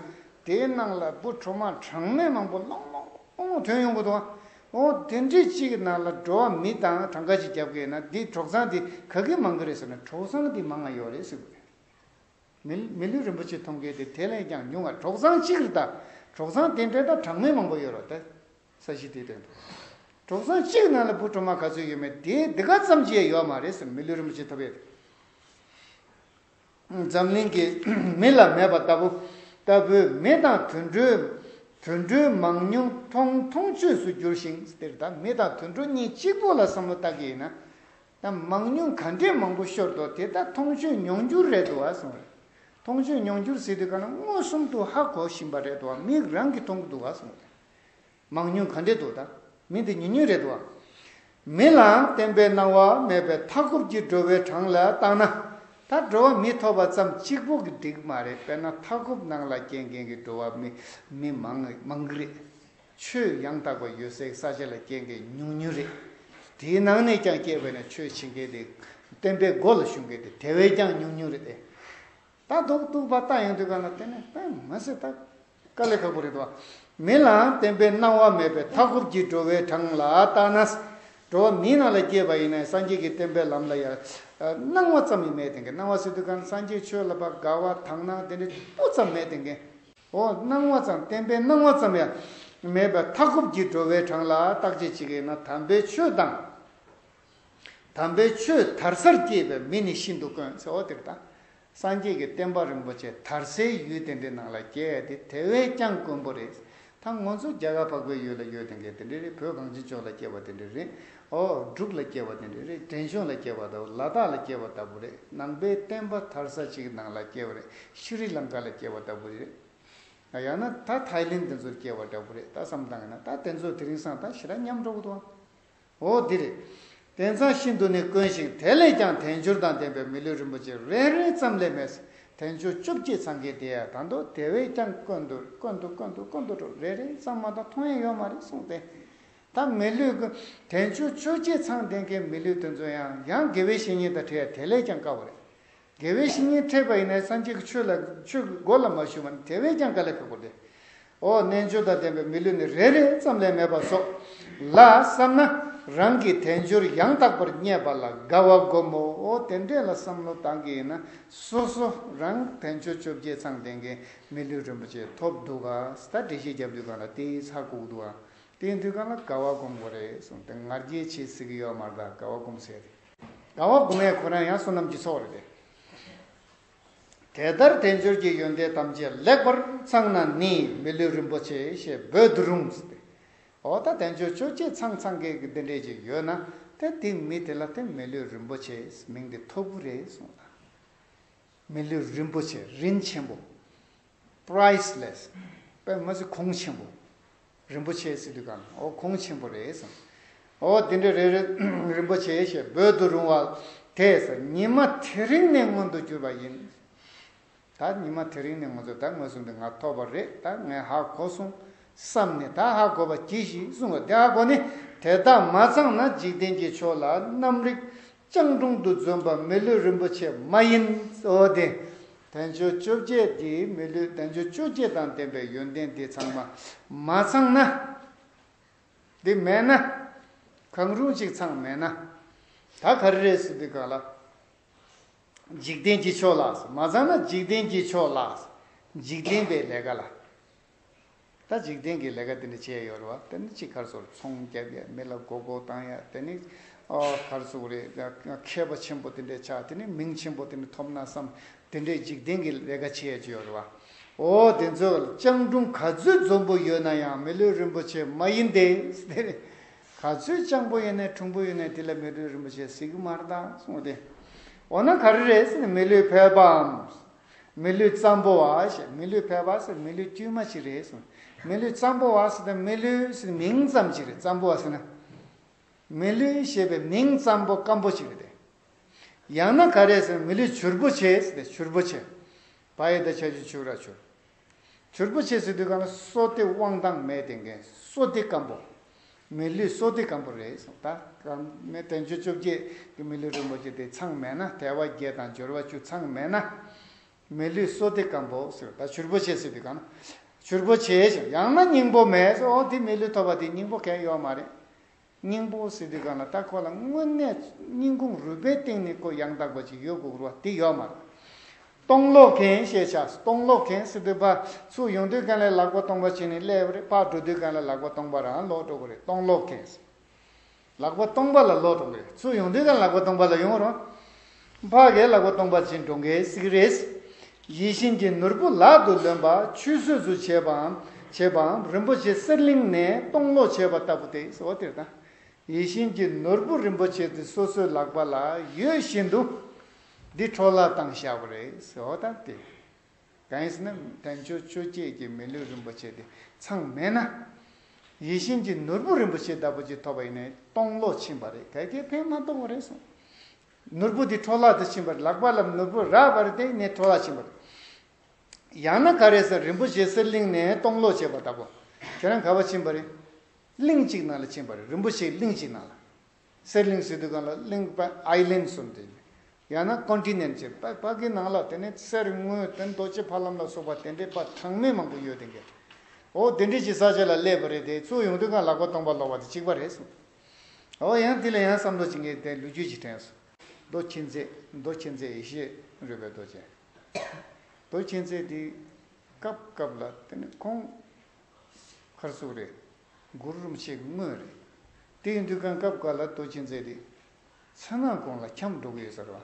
དེའི་ནང་ལ་བུ་གྲོག་མ་གྲངས་མེད་མང་པོ་ལོང་ལོང་ལོང་ལོང་དོན་ཡོང་གི་འདུག་བ་འོ་དེ་འདྲི་གཅིག་ནང་ལ་འགྲོ་བ་མི་དང་གྲངས་ཀ་གཅིག་རྒྱབ་གི་ན་འདི་གྲོག་ཚང་དེ་ག་གི་མང་གི་རེད་ཟེར་ན་གྲོག་ཚང་དེ་མང་ང་ཡོག་རེད་ཟེར་གི། མི་ལུས་རིན་པོ་ཆེ་མཐོང་མཁན་དེ་དེ་ལས་ཀྱང་ཉུང་བ་གྲོག་ཚང་གཅིག་རེད་ད། གྲོག་ཚང་དེ་འདྲའི་དང་གྲངས་མེད་མང་པོ་ཡོད་རོགས་ད། ས་གཞི་དེའི་དོན་དུ། གྲོག་ཚང་གཅིག་ནང་ལ་བུ་གྲོ་མ་ག་ཚོད་ཡོད་མེད་དེ་འདི་ག་ཙམ་གྱིས་ཡོད་མ་རེད་ཟེར་མི་ལུས་རིན་པོ་ཆེ་ཐོབ་ཡོད་དེ། འཛམ་གླིང་གི་མི་ལ་མེད་པ་ལྟ་བུ་ལྟ་བུའི་མི་དང་དུད་འགྲོའི་དུད་འགྲོའི་མང་ཉུང་མཐོང་མཐོང་ཆོས་སུ་གྱུར་ཞིང་དེར་ད་མི་དང་དུད་འགྲོ་གཉིས་གཅིག་པོ་ལ་བསམ་བློ་བཏགས་ཀྱི་ཡིན་ན། དང་མང་ཉུང་ག་འདྲས་མང་པོ་ཤོར་དོ་དེ་དག་མཐོང་ཆོས་མྱོང་འགྱུར་རེད་དོ་ཨ་སོང། མཐོང་ཆོས་མྱོང་འགྱུར་ཟེར་དུས་ག་ན་མངོན་སུམ་དུ་ཧ་གོ་བཞིན་པ་རེད་དོ་ཨ་མིག་རང་གིས་མཐོང་གི་འདུག་ཨ་སོང། མང་ཉུང་ག་འདྲས་འདུག་ད་མི་འདི་ཉུང་ཉུང་རེད་དོ་ཨ། མི་ལའང་བརྟན་པའི་སྣང་བ་མེད་པའི་མཐའ་འཁོབ་ཀྱི་འགྲོ་བའི་གྲངས་ལ་བརྟག་ན། ད་འགྲོ་བ་མི་ཐོབ་པ་ཙམ་གཅིག་པོ་གི་འགྲིག་མ་རེད་དཔེར་ན་མཐའ་འཁོབ་ནང་ལ་སྐྱེས་མཁན་གྱི་འགྲོ་བ་མི་མང་གི་རེད། ཆོས་ཡང་དག་པ་ཡོད་སའི་ས་ཆ་ལ་སྐྱེ་མཁན་ཉུང་ཉུང་རེད། དེའི་ནང་ནས་ཀྱང་སྐྱེས་པའི་ནང་ཆོས་བྱེད་མཁན་དེ་བསྟན་པའི་སྒོ་ལ་ཞུགས་མཁན་དེ་དེ་བས་ཀྱང་ཉུང་ཉུང་རེད། ད་རྡོག་རྟུག་པ་ལྟ་ཡོང་དུས་གང་ལ་བརྟེན་ནས་ལྟ་ཡང་མི་སྲིད། ལྟ་དཀའ་ལས་ཁག་པོ་རེད། མི་ལའང་བསྟན་པའི་སྣང་བ་མེད་པས་མཐའ་འཁོབ་ཀྱི་འགྲོ་བའི་གྲངས་ལ་བལྟ་ན། འགྲོ་བ་མིའི་ནང་ལ་སྐྱེས་པ་ཡིན་ན་སངས་རྒྱས་ཀྱི་བསྟན་པའི་ལམ་ལ་ཡང་སྣང་བ་ཙམ་ཡང་མེད་དེ་སྣང་བ་སྲིད་དུས་གང་སངས་རྒྱས་ཆོས་ལ་བ་དགའ་བ་དག་སྣང་དེ་འདྲ་སྤུ་ཙམ་མེད་དེ། འོ་སྣང་བ་ཙམ་བསྟན་པས་སྣང་བ་ཙམ་ཡང་མེད་པའི་མཐའ་འཁོབ་ཀྱི་འགྲོ་བའི་གྲངས་ལ་བརྟག་དཔྱད་བྱེད་ཀྱི་ན་དམ་པའི་ཆོས་དང། དམ་པའི་ཆོས་དར་སར་སྐྱེས་པའི་མི་ནི་ཤིན་ཏུ་དཀོན་ཟེར་བ་དེར་ཐང་སངས་རྒྱས་ཀྱི་བསྟན་པ་རིན་པོ་ཆེ་དར་སའི་ཡུལ་དེ་འདྲའི་ནང་ལ་སྐྱེ་ཡ་དེ་དེ་བས་ཀྱང་དཀོན་པོ་རེད་ཐང་ངོ་ཚོ་རྒྱ་གར་འཕགས་པའི་ཡུལ་ལ་ཡོད་དེ་འགས་དེ་འདྲའི་རེད་བོད་གངས་ཅན་ལྗོངས་ལ་སྐྱེས་པ་དེ་འདྲའི་རེད་ཨོ་འབྲུག་ལ་སྐྱེ་བ་ནི་རེད་རེད་བྲན་གཞུང་ལ་སྐྱེ་བ་དང་ལ་དྭགས་ལ་སྐྱེ་བ་ལྟ་བུ་རེད་ནང་པའི་བསྟན་པ་དར་ས་ཅིག་ནང་ལ་སྐྱེ་བ་རེད་ཤི་རི་ལང་ཀ་ལ་སྐྱེ་བ་ལྟ་བུ་རེད་ད་ཡང་ན་ད་ཐའི་ལེན་དེ་ཚོར་སྐྱེ་བ་འདྲ་བོ་རེད་ད་བསམ་གཏང་ན་ད་དེ་ཚོ་དེ་རིང་སང་ད་ཞི་ར་མཉམ་འགྲོ་གི་འདུག་ཨང་ཨོ་འདི་རེད་དེ་མཚང་ཤིན་ཏུ་ནས་དཀོན་ཞིང་དེ་ལས་ཀྱང་དལ་འབྱོར་དང་ལྡན་པའི་མི་ལུས་རིན་པོ་ཆེ་རེ་རེ་ཙམ་ལས་མེད་ཟེར་དལ་འབྱོར་བཅོ་བརྒྱད་ཚང་གི་དེ་ཡང་ད་འདོད་དེ་བས་ཀྱང་དཀོན་འདུག་དཀོན་འདུག་དཀོན་འདུག་དཀོན་འདུག་འགྲོ་རེ་རེ་ཙམ་མ་གཏོགས་མཐོང་ཡ་ཡོད་མ་རེད་གསུངས་ཏེ་ད་མི་ལུས་ཀྱི་དྲན་ཆུང་ཆོས་རྗེ་ཚང་བསྟེན་མཁན་མི་ལུས་དེ་ཚོ་ཡང་ཡང་དགེ་བའི་བཤེས་གཉེན་དང་འཕྲད་དེ་ལས་ཀྱང་དཀའ་བ་རེད། དགེ་བའི་བཤེས་གཉེན་འཕྲད་པ་ཡིན་ན་སངས་རྒྱས་ཀྱི་ཆོས་ལ་ཆོས་ཀྱི་སྒོ་ལ་མ་ཞུགས་པ་ནི་དེ་བས་ཀྱང་དཀའ་ལས་ཁག་པོ་རེད། འོ་རྣལ་འབྱོར་དང་ལྡན་པའི་མི་ལུས་ནི་རེ་རེ་ཙམ་ལས་མེད་པ་སོགས་ལ་བསམ་ན་རང་གི་དལ་འབྱོར་ཡང་དག་པར་རྙེད་པ་ལ་དགའ་བ་སྒོམ་མོ་འོ་དེ་འདྲས་ལ་བསམ་བློ་བཏང་གི་ཡིན་ན་སོ་སོ་རང་དལ་འབྱོར་ཆོས་རྗེ་ཚང་བསྟེན་མཁན་མི་ལུས་རིན་པོ་ཆེ་ཐོབ་འདུག་ག་ད་འགྲེལ་བཤད་རྒྱབ་དུས་གང་ལ་དེའི་ཚགས་བཀུག་འདུག་ཨ་དེའི་མཐུས་གང་ལ་དགའ་བ་སྒོམ་དགོས་རེད་གསུངས་དེ་ང་རྒྱལ་ཆེ་གཟིགས་ཀྱི་ཡོད་མ་གདའ་དགའ་བ་སྒོམ་ཟེར་རེད། དགའ་བ་སྒོམ་ཡས་ཁོ་རང་ཡང་བསོད་ནམས་ཀྱི་ཚོགས་རེད་དེ། དེ་ལྟར་དལ་འབྱོར་གྱི་ཡོན་ཏན་ཐམས་ཅད་ལེགས་པར་ཚང་ན་ནི་མི་ལུས་རིན་པོ་ཆེ་ཞེས་འབོད་དུ་རུང་ཟེར་ཏེ། འོ་ད་དལ་འབྱོར་ཆོས་བྱེད་ཚང་ཚང་གེ་གེ་འདི་འདྲས་ཅིག་ཡོད་ན་དེ་དེ་མི་དེ་ལ་དེ་མི་ལུས་རིན་པོ་ཆེས་མིང་འདི་ཐོབ་གི་རེད་གསུངས་ལ། མི་ལུས་རིན་པོ་ཆེ་རིན་ཆེན་པོ། Priceless། པད་མ་གཟི་ཁུང་ཆེན་པོ། རིན་པོ་ཆེའི་སི་ཏུ་ཀང་ཨོ་ཁུང་ཆེན་པོ་རེད། ཨོ་དེ་འདྲ་རེད། རིན་པོ་ཆེ་ཞེས་འབོད་དུ་རུང་བ་དེས་ཉི་མ་དེ་རིང་ནས་མངོན་དུ་གྱུར་པ་ཡིན། ད་ཉི་མ་དེ་རིང་ནས་ང་ཚོ་ད་ངོས་བཟུང་དེ་ང་ཐོབ་པ་རེད་ད་ངས་ཧ་གོ་སོང་བསམ་ནས་ད་ཧ་གོ་བ་གྱིས་ཤིག་གསུང་བ་དེ་ཧ་གོ་ནས་དེ་དག་མ་ཚང་ན་འཇིག་རྟེན་གྱི་ཕྱོགས་ལ་གནམ་རིག་སྤྱང་གྲུང་དུ་བརྫུན་པ་མི་ལུས་རིན་པོ་ཆེ་མ་ཡིན། གཙོ་བོ་དེ། བསྟན་བཅོས་བཅོ་བརྒྱད་འདིས་མི་ལུས་བསྟན་བཅོས་བཅོ་བརྒྱད་དང་ལྡན་པའི་ཡོན་ཏན་འདི་ཚང་མ་མ་ཚང་ན། འདི་མེད་ན། གང་རུང་གཅིག་ཚང་མེད་ན། ད་ག་རེ་རེད་ཟེར་དུས་གང་ལ། འཇིག་རྟེན་གྱི་ཕྱོགས་ལ། མ་ཚང་ན་འཇིག་རྟེན་གྱི་ཕྱོགས་ལ། འཇིག་རྟེན་པའི་ལས་ཀ་ལ། ད་འཇིག་རྟེན་གྱི་ལས་ཀ་དེ་ནི་བྱས་ཡོད་རེད་བ་དེ་ནི་ཅིག་གར་སོར་ཚོང་བརྒྱབ་ཡ་མི་ལ་མགོ་སྐོར་བཏང་ཡ་དེ་ནི་གར་ཚུགས་རེད་མཁས་པ་ཆེན་པོ་དེ་འདྲས་ཆགས་དེ་ནི་མིང་ཆེན་པོ་དེ་ནི་ཐོབ་ན་བསམ་དེ་འདྲས་འཇིག་རྟེན་གྱི་ལས་ཀ་བྱས་ཀྱི་ཡོད་རེད་བ་འོ་དེ་ཚོས་སྤྱང་གྲུང་ག་ཚོད་འཛོམས་པོ་ཡོད་ན་ཡང་མི་ལུས་རིན་པོ་ཆེ་མ་ཡིན་ཏེ་དེ་ནི་ག་ཚོད་སྤྱང་པོ་ཡིན་ནས་གྲུང་པོ་ཡིན་ནས་དེ་ལ་མི་ལུས་རིན་པོ་ཆེ་ཟིག་མར་དང་གསུངས་ཏེ་འོ་ན་ག་རེ་རེད་མི་ལུས་ཕལ་པའམ་མི་ལུས་གཙང་པོ་བ་ཞེས་མི་ལུས་ཕལ་པ་ཟེར་མི་ལུས་དཀྱུས་མ་ཞིག་རེད་ཟེར། མི་ལུས་གཙང་པོ་བ་ཟེར་ན་མི་ལུས་ཟེར་མིང་ཙམ་ཞིག་རེད་གཙང་པོ་བ་ཟེར་ན། མི་ལུས་ཞེས་པའི་མིང་ཙམ་པོ་སྐམ་པོ་ཞིག་རེད་དེ། ཡང་ན་ག་རེ་ཟེར་མི་ལུས་བྱུར་པོ་ཆེ་ཟེར་ཏེ་བྱུར་པོ་ཆེ། བ་ཡི་ད་ཆ་ཆུ་བྱུར་ར་བྱུར། བྱུར་པོ་ཆེ་སི་ཏུ་གང་ལ་སོ་སྟེ་དབང་ཐང་མེད་དེ་འགན་སོ་སྟེ་སྐམ་པོ། མི་ལུས་སོ་སྟེ་སྐམ་པོ་རེད་གསུངས། ད་གམ་མེ་བཙན་བྱོལ་བཅོ་བརྒྱད་ཀྱི་མི་ལུས་རིན་པོ་ཆེ་དེ་ཚང་མེད་ན་དལ་བ་བརྒྱད་དང་འབྱོར་བ་བཅུ་ཚང་མེད་ན། མི་ལུས་སོ་སྟེ་སྐམ་པོ་ཟེར་ད་བྱུར་པོ་ཆེ་སི་ཏུ་གང་ལ་བྱུར་པོ་ཆེ་ཞིང་ཡང་ན་སྙིང་པོ་མེད་ཟེར་འོ་དེ་མི་ལུས་ཐོབ་པ་དེ་སྙིང་པོ་གན་ཡོག་མ་རེད། སྙིང་པོ་སི་ཏི་ག་ན་ཏཱ་ཁོ་ལ་དངོས་གནས་སྙིང་ཁུངས་རུས་པའི་སྟེང་ནས་ཀོ་ཡང་དག་པ་ཅིག་ཡོད་དགོས་རུང་བ་དེ་ཡོད་མ་རེད། སྟོང་ལོག་མཁན་ཞེས་བྱ་སྟོང་ལོག་མཁན་སི་ཏི་པ་སུ་ཡོང་དུས་གང་ལས་ལག་པ་སྟོང་པ་བྱས་ནས་སླེབས་པ་རེད་པགས་འགྲོ་དུས་གང་ལས་ལག་པ་སྟོང་པ་རང་ལོག་འགྲོ་གི་རེད་སྟོང་ལོག་མཁན་ལག་པ་སྟོང་པ་ལ་ལོག་འགྲོ་གི་རེད་སུ་ཡོང་དུས་གང་ལག་པ་སྟོང་པ་ལ་ཡོང་རུང། འཕགས་སྐྱེས་ལག་པ་སྟོང་པ་ཅན་འགྲོ་འགའི་སིག་རེས། ཡིད་བཞིན་གྱི་ནོར་བུ་ལག་ཏུ་ལོན་པ་ཆུད་ཟོས་སུ་བྱེད་པའམ་བྱེད་པའམ་རིན་པོ་ཆེ་གསེར་གླིང་ནས་སྟོང་ལོག་བྱེད་པ་ལྟ་བུ་དེ་གསལ་བ་དེ་དང། ཡིད་བཞིན་གྱི་ནོར་བུ་རིན་པོ་ཆེ་དེ་སོ་སོའི་ལག་པ་ལ་ཡོད་བཞིན་དུ། འདི་འཕྲོ་བརླག་བཏང་བཞག་པ་རེད་ཟེར་བ་དང་དེ། གང་ཡིན་ཟེར་ན་དལ་འབྱོར་ཆོས་བརྒྱད་ཀྱི་མི་ལུས་རིན་པོ་ཆེ་དེ་ཚང་མེད་ན། ཡིད་བཞིན་གྱི་ནོར་བུ་རིན་པོ་ཆེ་ལྟ་བུ་ཅིག་ཐོབ་པ་ཡིན་ནས་སྟོང་ལོག་ཕྱིན་པ་རེད་ག་གེ་ཕན་མ་ཐོགས་པ་རེད་གསུངས། ནོར་བུ་དེ་འཕྲོ་བརླག་ཏུ་ཕྱིན་པར་ལགས་པ་ལམ་ནོར་བུ་རགས་པར་བརྟེན་ནས་འཕྲོ་བརླག་ཕྱིན་པར་ལགས། ཡང་ན་ག་རེ་ས་རིན་པོ་ཆེ་གསེར་གླིང་ནས་སྟོང་ལོག་བྱས་པ་ལྟ་བུ། ཁྱེད་རང་ག་བ་ཕྱིན་པར། གླིང་གཅིག་ནང་ལ་ཕྱིན་པར་རིན་པོ་ཆེ་གླིང་གཅིག་ནང་ལ། གསེར་གླིང་སི་ཏུ་གང་ལ་གླིང་པ Island གསུམ་དེ། ཡང་ན Continent ཅེས་པ་པ་ཀི་ནང་ལ་དེ་ནས་གསེར་དངུལ་དེ་རྡོ་རྗེ་ཕ་ལམ་ལ་སོགས་པ་དེ་འདྲའི་པ་གྲངས་མེད་མང་པོ་ཡོད་དེ་འགས། འོ་དེ་འདྲའི་ཅི་ས་ཆ་ལ་སླེབས་པ་རེད་དེ་ཚོ་ཡོང་དུས་གང་ལགས་པ་སྟོང་པ་ལོག་པ་དེ་གཅིག་པ་རེད་གསུངས། ཨོ་ཨོ་ཡང་དེ་ལ་ཡང་བསམ་བློ་བྱིང་གེ་དེ་ལུས་རྒྱུད་ཀྱི་དྲན་སོ། རྡོ་མཁྱེན་བརྩེ་རྡོ་མཁྱེན་བརྩེ་ཡེ་ཤེས་རོལ་པའི་རྡོ་ཅན། རྡོ་མཁྱེན་བརྩེ་འདི་སྐབས་སྐབས་ལ་དེ་ནི་ཁོང། མཁར་གཙུག་རེད། མགུར་རུམ་ཆེ་གི་དངོས་རེད། དེ་ཡི་འདུལ་ཁང་སྐབས་འགའ་ལ་རྡོ་མཁྱེན་བརྩེ་འདི། མཚོན་ནག་གོང་ལ་འཁྱམས་འགྲོ་གི་ཡོད་ཟེར་བ།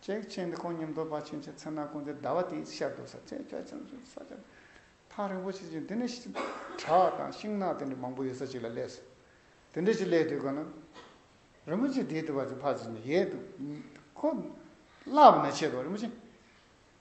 ཅེག་ཆེན་འདི་ཁོང་ཉམས་རྟོགས་པ་ཆེན་གྱི་ཚེ་ན་ཀུན་དའི་ཟླ་བ་དེའི་ཤར་རྡོ་ས་ཆེན་ལྕགས་ཆེན་ཟུར་ས་ཆེན་ཐང་རིན་པོ་ཆེ་ཆེན་འདི་ནས་བྲག་དང་ཤིང་ནགས་དེ་འདྲ་མང་པོ་ཡོད་ས་ཅིག་ལ་སླེབས་སོ། དེ་འདྲ་ཞིག་སླེབས་དུས་གོ་ན་རིན་པོ་ཆེ་དེའི་དུ་བ་ཅིག་ཕར་ཕྱིན་ནས་ཡལ་འདུག་ཁོ་བསླབ་ན་ཆེད་དུ་རིན་པོ་ཆེ།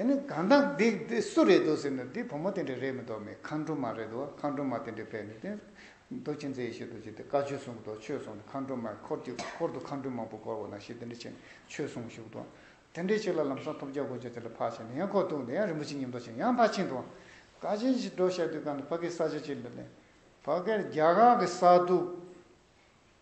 དེ་ནི་གང་ལྟ་འདི་འདི་སུ་རེད་འདུག་ཟེར་ནས་འདི་བུ་མོ་དེ་འདྲ་རེད་མི་འདུག་མི་མཁའ་འགྲོ་མ་རེད་འདུག་མཁའ་འགྲོ་མ་དེ་འདྲའི་ཕས་ནི་དེ་རྡོ་རྗེ་མཛད་ཡེ་ཤེས་རྡོ་རྗེ་དེ་བཀའ་ཆོས་གསུངས་འདུག་ཆོས་གསུངས་འདུག་མཁའ་འགྲོ་མའི་འཁོར་གྱི་འཁོར་དུ་མཁའ་འགྲོ་མང་པོ་བསྐོར་བ་ན་ཞེས་དེ་འདྲ་བྱས་ནས་ཆོས་གསུངས་བཞུགས་འདུག་དེ་འདྲའི་ཆོས་ལ་ལམ་སང་ཐོབ་བྱ་དགོས་བྱ་དེ་ལ་ཕར་ཕྱིན་ནས་ཡང་འཁོར་གཏུགས་ནས་ཡང་རིན་པོ་ཆེ་ཉམས་རྟོགས་བྱས་ནས་ཡང་ཕར་ཕྱིན་འདུག་བཀའ་ཆེན་ཞིག་སྒྲོགས་བྱ་དུས་གང་ནས་ཕ་གིའི་ས་ཆ་ཅིག་ལ་ནས་ཕ་གིར་རྒྱ་གར་གྱི་ས་རྡུགས།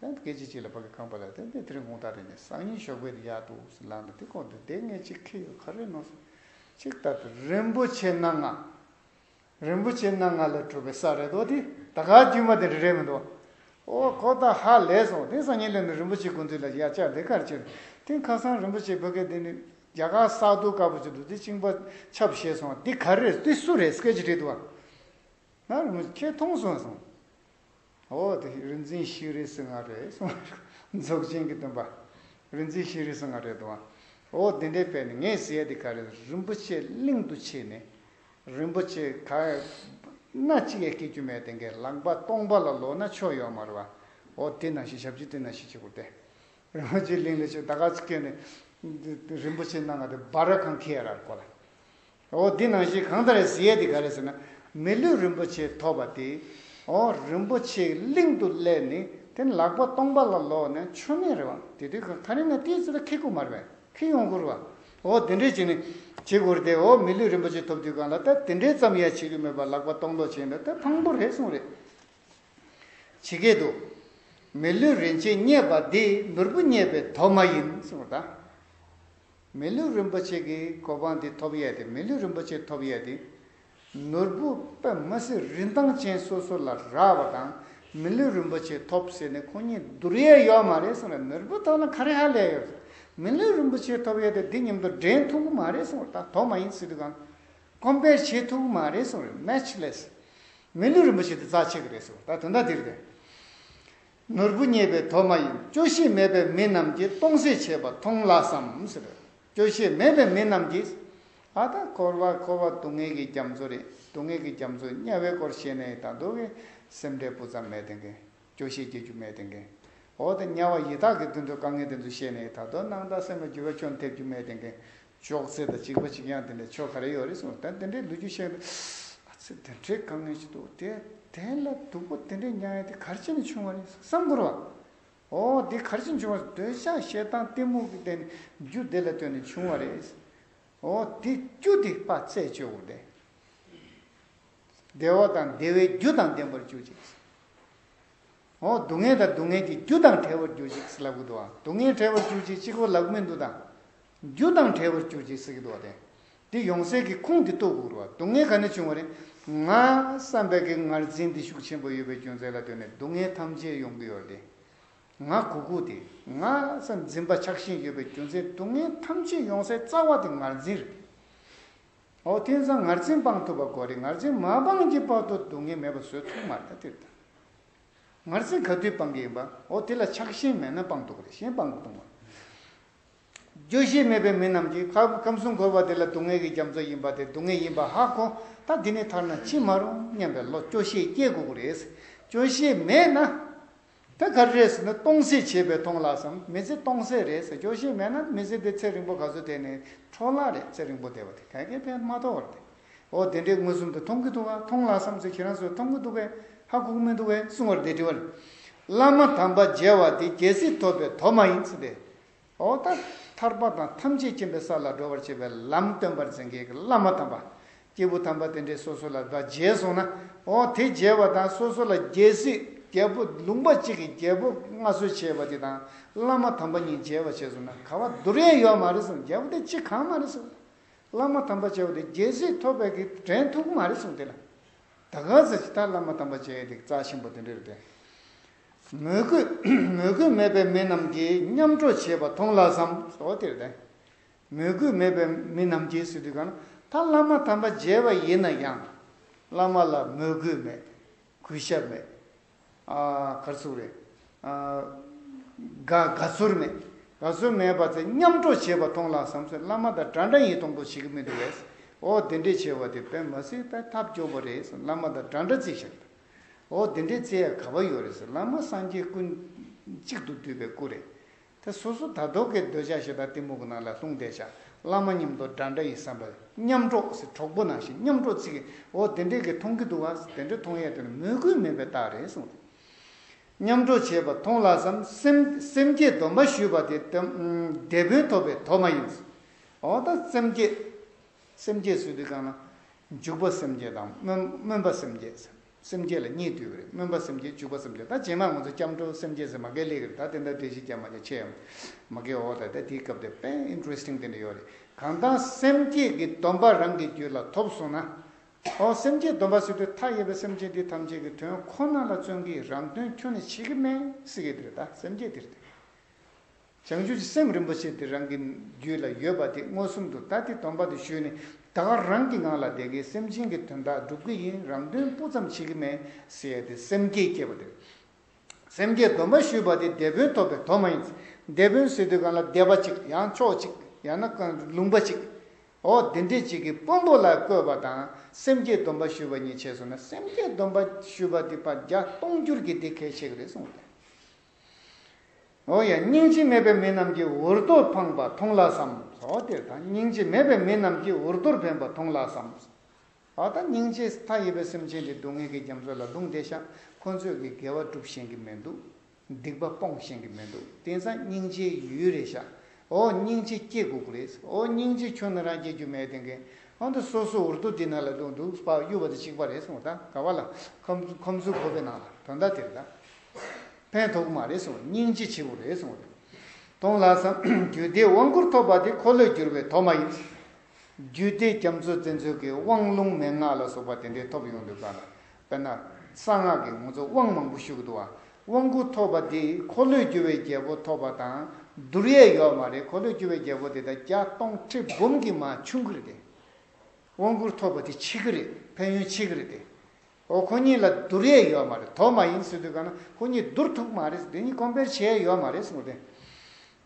དེ་ཡང་སྐད་ཅིག་གཅིག་ལ་བག་གི་རྐང་པ་ལ་ཏན་ཏན་དེ་རིང་གུང་ཐག་རིང་ནས་སང་ཉིན་ཞོགས་པའི་ཡར་དུ་འུག་སུ་ལངས་ནས་དེ་སྐོར་དུ་སྡེ་ལྔའི་སྤྱི་ཁེ་ཡོད་ཁ་རེ་ནོར་སོང། ཅིག་ལྟར་དུ་རིན་པོ་ཆེ་སྣ་ལྔ། རིན་པོ་ཆེ་སྣ་ལྔ་ལས་གྲུབ་པའི་ས་རེ་དོགས་དེ་ད་གའ་དཀྱུས་མ་དེ་རེ་རེ་མི་འདུག། ཨོ་ཁོ་ད་ཧ་ལས་སོང་དེ་སང་ཉིན་ལས་ནི་རིན་པོ་ཆེ་དགོན་འདུས་ལ་ཡར་བཅར་འདི་གར་བྱོན། དེ་ཁ་སང་རིན་པོ་ཆེ་བོད་སྐད་འདི་ནི་རྒྱ་གར་ས་རྡོ་དཀར་པོ་ཅིག་འདུག་དེ་བཅིངས་པ་ཆབ་བཞེས་སོང་འདི་ག་རེ་རེད་འདི་སུ་རེད་སྐད་ཅིག་དྲིས་འདུག་ཨ། ང་རིན་པོ་ཆེ་ཁྱེད་མཐོང་སོང་སོང། འོ་དེ་རིག་འཛིན་ཤེས་རིག་སེང་ངར་རེད་གསུང་བ། རྫོགས་ཆེན་གྱི་སྟོན་པ། རིག་འཛིན་ཤེས་རིག་སེང་ངར་རེད་དོ། འོ་དེ་འདྲའི་དཔེ་ནི་ངས་ཟེར་ཡ་དེ་ག་རེད་རིན་པོ་ཆེ་གླིང་དུ་ཕྱིན་ནས། རིན་པོ་ཆེ་ག། སྣ་གཅིག་ཡང་སྐྱེ་རྒྱུ་མེད་དེ་འགས་ལག་པ་སྟོང་པ་ལ་ལོག་ན་ཆོ་ཡོད་མ་རེད་བ། འོ་དེ་ནང་བཞིན་ཞབས་ཀྱི་སྟེང་ན་ཤི་ཆེ་གུར་ཏེ། རིན་པོ་ཆེ་གླིང་ལ་ཆོས་ད་ག་ཚོད་བསྐྱོན་ནས། རིན་པོ་ཆེ་སྣ་ང་དེ་སྦ་ར་ཁང་ཁས་རར་བསྐོར་ལ། ཨོ་འདི་ནང་བཞིན་གང་ལྟར་གཟི་ཡས་དེ་ག་རེ་ཟེར་ན་མི་ལུས་རིན་པོ་ཆེ་ཐོབ་པ་དེ་ཨོ་རིན་པོ་ཆེའི་གླིང་དུ་སླེབས་ནས་དེ་ལག་པ་སྟོང་པ་ལ་ལོག་ནས་མཆོད་མེ་རེ་བ་དེ་དུས་ཁ་རི་ན་ཏིའི་ཚུལ་ལ་ཁི་སྐུ་མར་བས་ཁི་ཡོང་བསྐུར་བ་ཨོ་དེ་འདྲས་བྱས་ནས་བྱེད་དགོས་རེད་ཨོ་མི་ལུས་རིན་པོ་ཆེ་ཐོབ་དུས་གང་ལ་ལྟ་དེ་འདྲས་ཙམ་ཡང་བྱེད་རྒྱུ་མེད་པར་ལག་པ་སྟོང་ལོག་བྱས་འདུག་ད་ཕངས་པོ་རེད་གསུངས་རེད་བྱེད་སྐད་དུ། མི་ལུས་རིན་ཆེན་རྙེད་པ་འདི་ནོར་བུ་རྙེད་པའི་དོ་མ་ཡིན་གསུངས་རེད་ད། མི་ལུས་རིན་པོ་ཆེ་གི་གོ་འཕང་འདི་ཐོབ་ཡས་ཏེ་མི་ལུས་རིན་པོ་ཆེ་ཐོབ་ཡས་ཏེ། ནོར་བུ་པདྨ་གསེར་རིན་ཐང་ཅན་སོ་སོ་ལ་རག་པ་དང་མི་ལུས་རིན་པོ་ཆེ་ཐོབ་ཟེར་ནས་ཁོང་གཉིས་བསྡུར་ཡས་ཡོད་མ་རེད་གསུངས་ལ་ནོར་བུ་ཐོག་ན་ཁ་རེ་ཧ་ལས་ཡོད། མི་ལུས་རིན་པོ་ཆེ་ཐོབ་ཡས་ཏེ་འདི་སྙམ་དུ་འགྲན་ཐུག་གི་མ་རེད་གསུངས་ལ་ད་དོག་མ་ཡིན་སྲིད་དུས་གང Compare བྱེད་ཐུག་གི་མ་རེད་གསུངས་རེད Matchless། མི་ལུས་རིན་པོ་ཆེ་འདི་རྩ་ཆེ་གི་རེད་གསུངས་ད་དོན་དག་འདི་རེད། ནོར་བུ་རྙེད་པའི་དོ་མ་ཡིན་སྐྱོ་ཤས་མེད་པའི་མི་རྣམས་ཀྱིས་སྟོང་ཟད་བྱེད་པ་མཐོང་སླ་བསམ། སྐྱོ་ཤས་མེད་པའི་མི་རྣམས་ཀྱིས། ཨ་ད་འཁོར་བ་འཁོར་བ་སྡུག་བསྔལ་གྱི་རྒྱ་མཚོ་རེད་སྡུག་བསྔལ་གྱི་རྒྱ་མཚོ་དམྱལ་བའི་སྐོར་བཤད་ནའི་ད་སྡུག་གི་སེམས་ཁྲལ་སྤུ་ཙམ་མེད་དེ་གིས་སྐྱོ་ཤས་སྐྱེ་རྒྱུ་མེད་དེ་གིས། འོ་ད་དམྱལ་བ་ཡི་དྭགས་ཀྱི་དུད་འགྲོ་དཀའ་ངལ་དེ་ཚོ་བཤད་ནའི་ད་སྡུག་སྣང་དང་སེམས་ལ་འགྱུར་བ་ཅུང་ཐེབས་རྒྱུ་མེད་དེ་གིས་ཅོག་ཙེ་དང་གཅིག་པ་གཅིག་ཡང་དེ་འདྲའི་ཆོ་ག་རེ་ཡོད་རེད་གསུངས་ད་དེ་འདྲའི་ལོ་རྒྱུས་བཤད་འདུག་ཨ་ཙི་དེ་འདྲའི་དཀའ་ངལ་ཞིག་འདུག་དེ་དེ་ལ་སྡུག་པོ་དེ་འདྲའི་མྱངས་ཡོད་དེ་གར་ཅི་ནས་བྱུང་བ་རེད་བསམ་གོ་རོགས། ཨོ་དེ་གར་ཅི་བྱུང་བ་སོགས་འདོད་ཆགས་ཞེ་སྡང་གཏི་མུག་གི་བརྟེན་རྒྱུ་དེ་ལ་ལྟོས་ནས་བྱུང་བ་རེད། ཨོ་དེ་རྒྱུ་དེ་དཔའ་རྩལ་སྤྱོད་དགོས་དེ། བདེ་བ་དང་བདེ་བའི་རྒྱུ་དང་ལྡན་པར་གྱུར་ཅིག། ཨོ་སྡུག་བསྔལ་དང་སྡུག་བསྔལ་གྱི་རྒྱུ་དང་བྲལ་བར་གྱུར་ཅིག་ལབ་དགོས་འདུག་ཨང་སྡུག་བསྔལ་བྲལ་བར་གྱུར་ཅིག་གཅིག་པོ་ལབ་མི་འདུག་དང། རྒྱུ་དང་བྲལ་བར་གྱུར་ཅིག་ཟེར་གྱི་འདུག་བ་དན། འདི་ཡོང་གསལ་གྱི་ཁུངས་འདི་རྟོགས་དགོས་རུང་བ་སྡུག་བསྔལ་ག་ནས་བྱུང་བ་རེད། ང། བསམ་པའི་གེགས་ངར་འཛིན་འདི་ཤུགས་ཆེན་པོ་ཡོད་པའི་རྒྱུ་མཚན་ལ་ལྟོས་ནས་སྡུག་བསྔལ་ཐམས་ཅད་ཡོང་གི་ཡོད་དེ། ང་གུ་གུ་དེ། ང། བསམ་འཛིན་པ་ཆགས་ཞེན་ཡོད་པའི་རྒྱུ་མཚན་སྡུག་བསྔལ་ཐམས་ཅད་ཡོང་སའི་རྩ་བ་དེ་ངར་འཛིན་རེད། འོ་དེང་སང་ངར་འཛིན་སྤང་ཐུབ་པ་གོ་རེད་ངར་འཛིན་མ་སྤངས་ཀྱི་བར་དུ་སྡུག་བསྔལ་མེད་པ་བཟོས་ཐུབ་མ་རེད་དེ་ལྟར། ངར་འཛིན་ག་དུས་སྤང་གི་ཡིན་པ་འོ་དེ་ལ་ཆགས་ཞེན་མེད་ན་སྤང་ཐུབ་པ་རེད་གཞན་སྤང་མི་ཐུབ་མོད། རྗོད་གཞི་མེད་པའི་མི་རྣམས་ཀྱིས་ཁམས་གསུམ་འཁོར་བ་འདི་ལ་སྡུག་བསྔལ་གྱི་རྒྱ་མཚོ་ཡིན་པ་དེ་སྡུག་བསྔལ་ཡིན་པ་ཧ་གོ་ད་འདི་ནས་ཐར་ན་ཅི་མ་རུང་སྙམ་པའི་བློ་སྐྱོ་ཤས་སྐྱེ་དགོས་ཀྱི་རེད། སྐྱོ་ཤས་མེད་ན། ད་ག་རེ་རེད་ཟེར་ན་སྟོང་ཟད་བྱས་པས་སྟོང་ལགས་སམ་མི་ཚེ་སྟོང་ཟད་རེད་ཟེར་སྐྱོ་ཤས་མེད་ན་མི་ཚེ་འདི་ཚེ་རིང་པོ་ག་ཚོད་བསྡད་ནས་འཕྲོ་ལགས་རེད་ཚེ་རིང་པོ་བསྡད་པ་དེ་ག་གེ་ཕན་མ་ཐོག་བར་དེ་འོ་དེ་འདྲས་མངོན་སུམ་དུ་མཐོང་གི་འདུག་ག་མཐོང་ལགས་སམ་ཚེ་ཁྱེད་རང་ཚོས་མཐོང་གི་འདུག་པས་ཧ་གོ་གི་མི་འདུག་བས་གསུང་བར་དེ་དྲི་བ། བླ་མ་དམ་པ་མཇལ་བ་དེ་རྒྱལ་སྲིད་ཐོབ་པའི་དོ་མ་ཡིན་ཟེར་ཏེ། འོག་ཐ་ཐར་པ་དང་ཐམས་ཅད་མཁྱེན་པའི་ས་ལ་འགྲོ་བར་བྱེད་པའི་ལམ་སྟོན་པར་འཛིན་མཁན་གྱི་བླ་མ་དམ་པ། སྐྱེས་བུ་དམ་པ་དེ་འདྲས་སོ་སོ་ལ་བདག་མཇལ་སོང་ན། འོ་དེ་མཇལ་བ་དང་སོ་སོ་ལ་རྒྱལ་སྲིད་རྒྱལ་པོ་ལུང་པ་གཅིག་གི་རྒྱལ་པོ་མངའ་གསོལ་བྱས་བ་དེ་དང་བླ་མ་དམ་པ་གཉིས་མཇལ་བར་བྱས་སོང་ན་ག་བ་འདུར་ཡན་ཡོད་མ་རེད་སོང་རྒྱལ་པོ་དེ་ཅི་གང་མ་རེད་སོང། བླ་མ་དམ་པ་བྱས་བ་དེ་རྒྱལ་སྲིད་ཐོབ་པའི་གི་དྲན་ཐུག་མ་རེད་སོང་དེ་ལ། ད་ག་ཟེ་ཅི་ད་བླ་མ་དམ་པ་བྱས་ཏེ་རྩ་ཆེན་པོ་དེ་འདྲས་རེད་དེ། མོས་གུས་མེད་པའི་མི་རྣམས་ཀྱིས་མཉམ་འགྲོ་བྱེད་པ་མཐོང་ལགས་སམ། མོས་གུས་མེད་པའི་མི་རྣམས་ཀྱིས་ཟེར་དུས་གང་ན་ད་བླ་མ་དམ་པ་མཇལ་བ་ཡིན་ན་ཡང་བླ་མ་ལ་མོས་གུས་མེད། གུས་ཞབས་མེད། གར་ཚུགས་རེད། དགའ་ཚོར་མེད། དགའ་ཚོར་མེད་པ་ཚེ་མཉམ་འགྲོ་བྱེད་པ་མཐོང་ལགས་སམ། བླ་མ་དང་འདྲ་འདྲ་ཡིན་མཐོང་འགྲོ་བྱེད་ཀྱི་མི་འདུག་ཨོ་དེ་འདྲས་བྱེད་པ་དེ་དཔེ་མ་སྲིད་པའི་ཐབས་སྐྱོ་པོ་རེད་བསམ། བླ་མ་དང་འདྲ་འདྲ་ཅིག་བྱེད་དང། འོ་དེ་འདྲའི་ཚེ་ག་པ་ཡོད་རེད་ཟེར་བླ་མ་སངས་རྒྱས་ཀུན། གཅིག་ཏུ་བསྡུས་པའི་སྐུ་རེད། དེ་སོ་སོ་དར་ཐོག་གི་འདོད་ཆགས་ཞེ་དྲག་གཏི་མུག་གི་ནང་ལ་ལྷུང་བསྡད་བྱ་བླ་མ་ཉམས་རྟོགས་འདྲ་འདྲ་ཡི་བསམ་པ། ཉམས་རྟོགས་ཟེར་གྲོགས་པོ་ནང་བཞིན་ཉམས་རྟོགས་ཚིག་གི་འོ་དེ་འདྲའི་གི་མཐོང་གི་འདུག་བ་དེ་འདྲ་མཐོང་ཡས་དེ་ནི་མོས་གུས་མེད་པའི་རྟགས་རེད་གསུངས་ཏེ། ཉམས་རྟོགས་བྱས་པ་མཐོང་ལགས་སམ་སེམས་སེམས་བསྐྱེད་སྡོམ་པ་ཞུས་པ་དེ་དེ་དེད་དཔོན་ཐོབ་པའི་དོགས་མ་ཡིན། འོ་ད་སེམས་བསྐྱེད། སེམས་བསྐྱེད་ཚུལ་དུ་བསྐངས་ན། འཇུག་པ་སེམས་བསྐྱེད་དང། སྨོན་པ་སེམས་བསྐྱེད། སེམས་བསྐྱེད་ལ་གཉིས་བསྡུས་པ་རེད། སྨོན་པ་སེམས་བསྐྱེད་འཇུག་པ་སེམས་བསྐྱེད་ད་རྗེས་མར་ང་ཚོ་སྐྱབས་འགྲོ་སེམས་བསྐྱེད་ཟེར་མ་དགའི་ལེ་གི་རེད་ད་དེ་འདྲ་འདྲེ་ཞིག་རྒྱབ་མ་རྒྱ་ཆེ་ཡང་མ་དགའི་འོ་ད་ད་དེའི་སྐབས་དེ་དཔེ Interesting དེ་འདྲ་ཡོད་རེད་གང་ལྟར་སེམས་བསྐྱེད་ཀྱི་སྡོམ་པ་རང་གི་རྒྱུད་ལ་ཐོབ་སོང་ན། ཨོ་སེམས་བསྐྱེད་སྡོམ་པ་ཟེར་དུས་མཐའ་ཡས་པའི་སེམས་བསྐྱེད་འདི་ཐམས་ཅད་ཀྱི་དོན་ཁོ་ན་ལ་བརྩོན་གྱིས་རང་དོན་ཁྱོད་ནས་བྱེད་ཀྱི་མེད་སྲིད་ཀྱི་དེ་རེད་ད་སེམས་བསྐྱེད་དེ་རེད། བྱང་ཆུབ་ཀྱི་སེམས་རིན་པོ་ཆེ་དེ་རང་གི་རྒྱུད་ལ་ཡོད་པ་དེ་མངོན་སུམ་དུ་ད་ལྟའི་སྡོམ་པ་དེ་ཞུས་ནས་ད་ག་རང་གི་ངང་ལ་བསྡད་ཀྱི་སེམས་ཅན་གྱི་དོན་དག་སྒྲུབ་ཀྱི་ཡིན་རང་དོན་སྤུ་ཙམ་བྱེད་ཀྱི་མེད་ཟེར་ཏེ་སེམས་བསྐྱེད་བསྐྱེད་པ་དེ་སེམས་བསྐྱེད་སྡོམ་པ་ཞུས་པ་དེ་སྡེ་དཔོན་ཐོབ་པའི་དོན་མ་ཡིན། སྡེ་དཔོན་ཟེར་དུས་གང་ལ་སྡེ་པ་ཅིག་ཡང་མཆོག་ཅིག་ཡང་ན་ལུང་པ་ཅིག་འོ་དེ་འདྲས་ཅིག་གིས་དཔོན་པོ་ལ་བསྐོས་པ་དང་སེམས་བསྐྱེད་སྡོམ་པ་ཞུས་པ་གཉིས་ཕྱེས་སོང་ན་སེམས་བསྐྱེད་སྡོམ་པ་ཞུས་པ་དེ་བརྒྱ་སྟོང་འགྱུར་གྱི་དེ་གལ་ཆེ་གི་རེད་གསུངས་པ་དེ། ཨོ་ཡ། སྙིང་རྗེ་མེད་པའི་མི་རྣམས་ཀྱིས་འུར་རྡོར་འཕངས་པ་མཐོང་ལགས་སམ། ཨོ་དེར་ད་སྙིང་རྗེ་མེད་པའི་མི་རྣམས་ཀྱིས་འུར་རྡོར་འཕེན་པ་མཐོང་ལགས་སམ། ཨོ་ད་སྙིང་རྗེ་མཐའ་ཡས་པའི་སེམས་ཅན་འདི་སྡུག་བསྔལ་གྱི་རྒྱ་མཚོ་ལ་ལྷུང་བསྡད་ཤག་ཁོ་ཚོས་གི་དགེ་བ་བསྒྲུབ་ཤེས་གི་མི་འདུག། སྡིག་པ་སྤོང་ཤེས་གི་མི་འདུག་དེང་སང་སྙིང་རྗེའི་ཡུལ་རེད་ཤག་ཨོ་སྙིང་རྗེ་སྐྱེ་དགུག་རེད་ཨོ་སྙིང་རྗེ་ཁྱོད་ནི་རང་སྐྱེ་རྒྱུ་མེད་དེང་གི་ཨོ་ད་སོ་སོ་འུར་རྡོ་འདི་ནང་ལ་ལྷུང་འདུག་སྤགས་གཡུ་བ་དེ་གཅིག་པ་རེད་ཨོ་ད་ག་བ་ལ་ཁོམ་ཁོམ་ཚུལ་ཁོ་བོའི་ནང་ལ་དོན་དག་དེ་རེད་ད། ཕན་ཐོགས་མ་རེད་གསུངས་སྙིང་རྗེ་ཆེ་པོ་རེད་གསུངས་རེད་གཏོང་ལགས་སམ། རྒྱུད་སྡེའི་དབང་བསྐུར་ཐོབ་པ་དེ་འཁོར་ལོས་བསྒྱུར་བའི་དོགས་མ་ཡིན། རྒྱུད་སྡེ་རྒྱ་མཚོ་བཙན་འཚོལ་གྱི་དབང་ལུང་མན་ངག་ལ་སོགས་པ་དེ་འདྲའི་ཐོབ་ཡོང་འདོད་ག་ལ། དཔེར་ན། གསང་སྔགས་ཀྱི་ངོ་ཚོ་དབང་མང་པོ་བཞུགས་འདུག་ཨ། དབང་བསྐུར་ཐོབ་པ་དེས་འཁོར་ལོས་བསྒྱུར་བའི་རྒྱལ་པོ་ཐོབ་པ་དང་བསྡུར་ཡས་ཡོད་མ་རེད་འཁོར་ལོས་བསྒྱུར་བའི་རྒྱལ་པོ་དེ་ད་བརྒྱ་སྟོང་ཁྲི་འབུམ་གྱི་མ་ཆུང་གི་རེད་དེ། དབང་བསྐུར་ཐོབ་པ་དེ་ཕྱི་གི་རེད་ཕན་ཡོན་ཕྱི་གི་རེད་དེ། ཨོ་ཁོ་གཉིས་ལ་བསྡུར་ཡས་ཡོད་མ་རེད་དོ་མ་ཡིན་སྲིད་དུས་ག་ན་ཁོ་གཉིས་བསྡུར་ཐུབ་མ་རེད་དེ་གཉིས་ཀོམ་པེར་བྱས་ཡས་ཡོད་མ་རེད་སོང་དེ་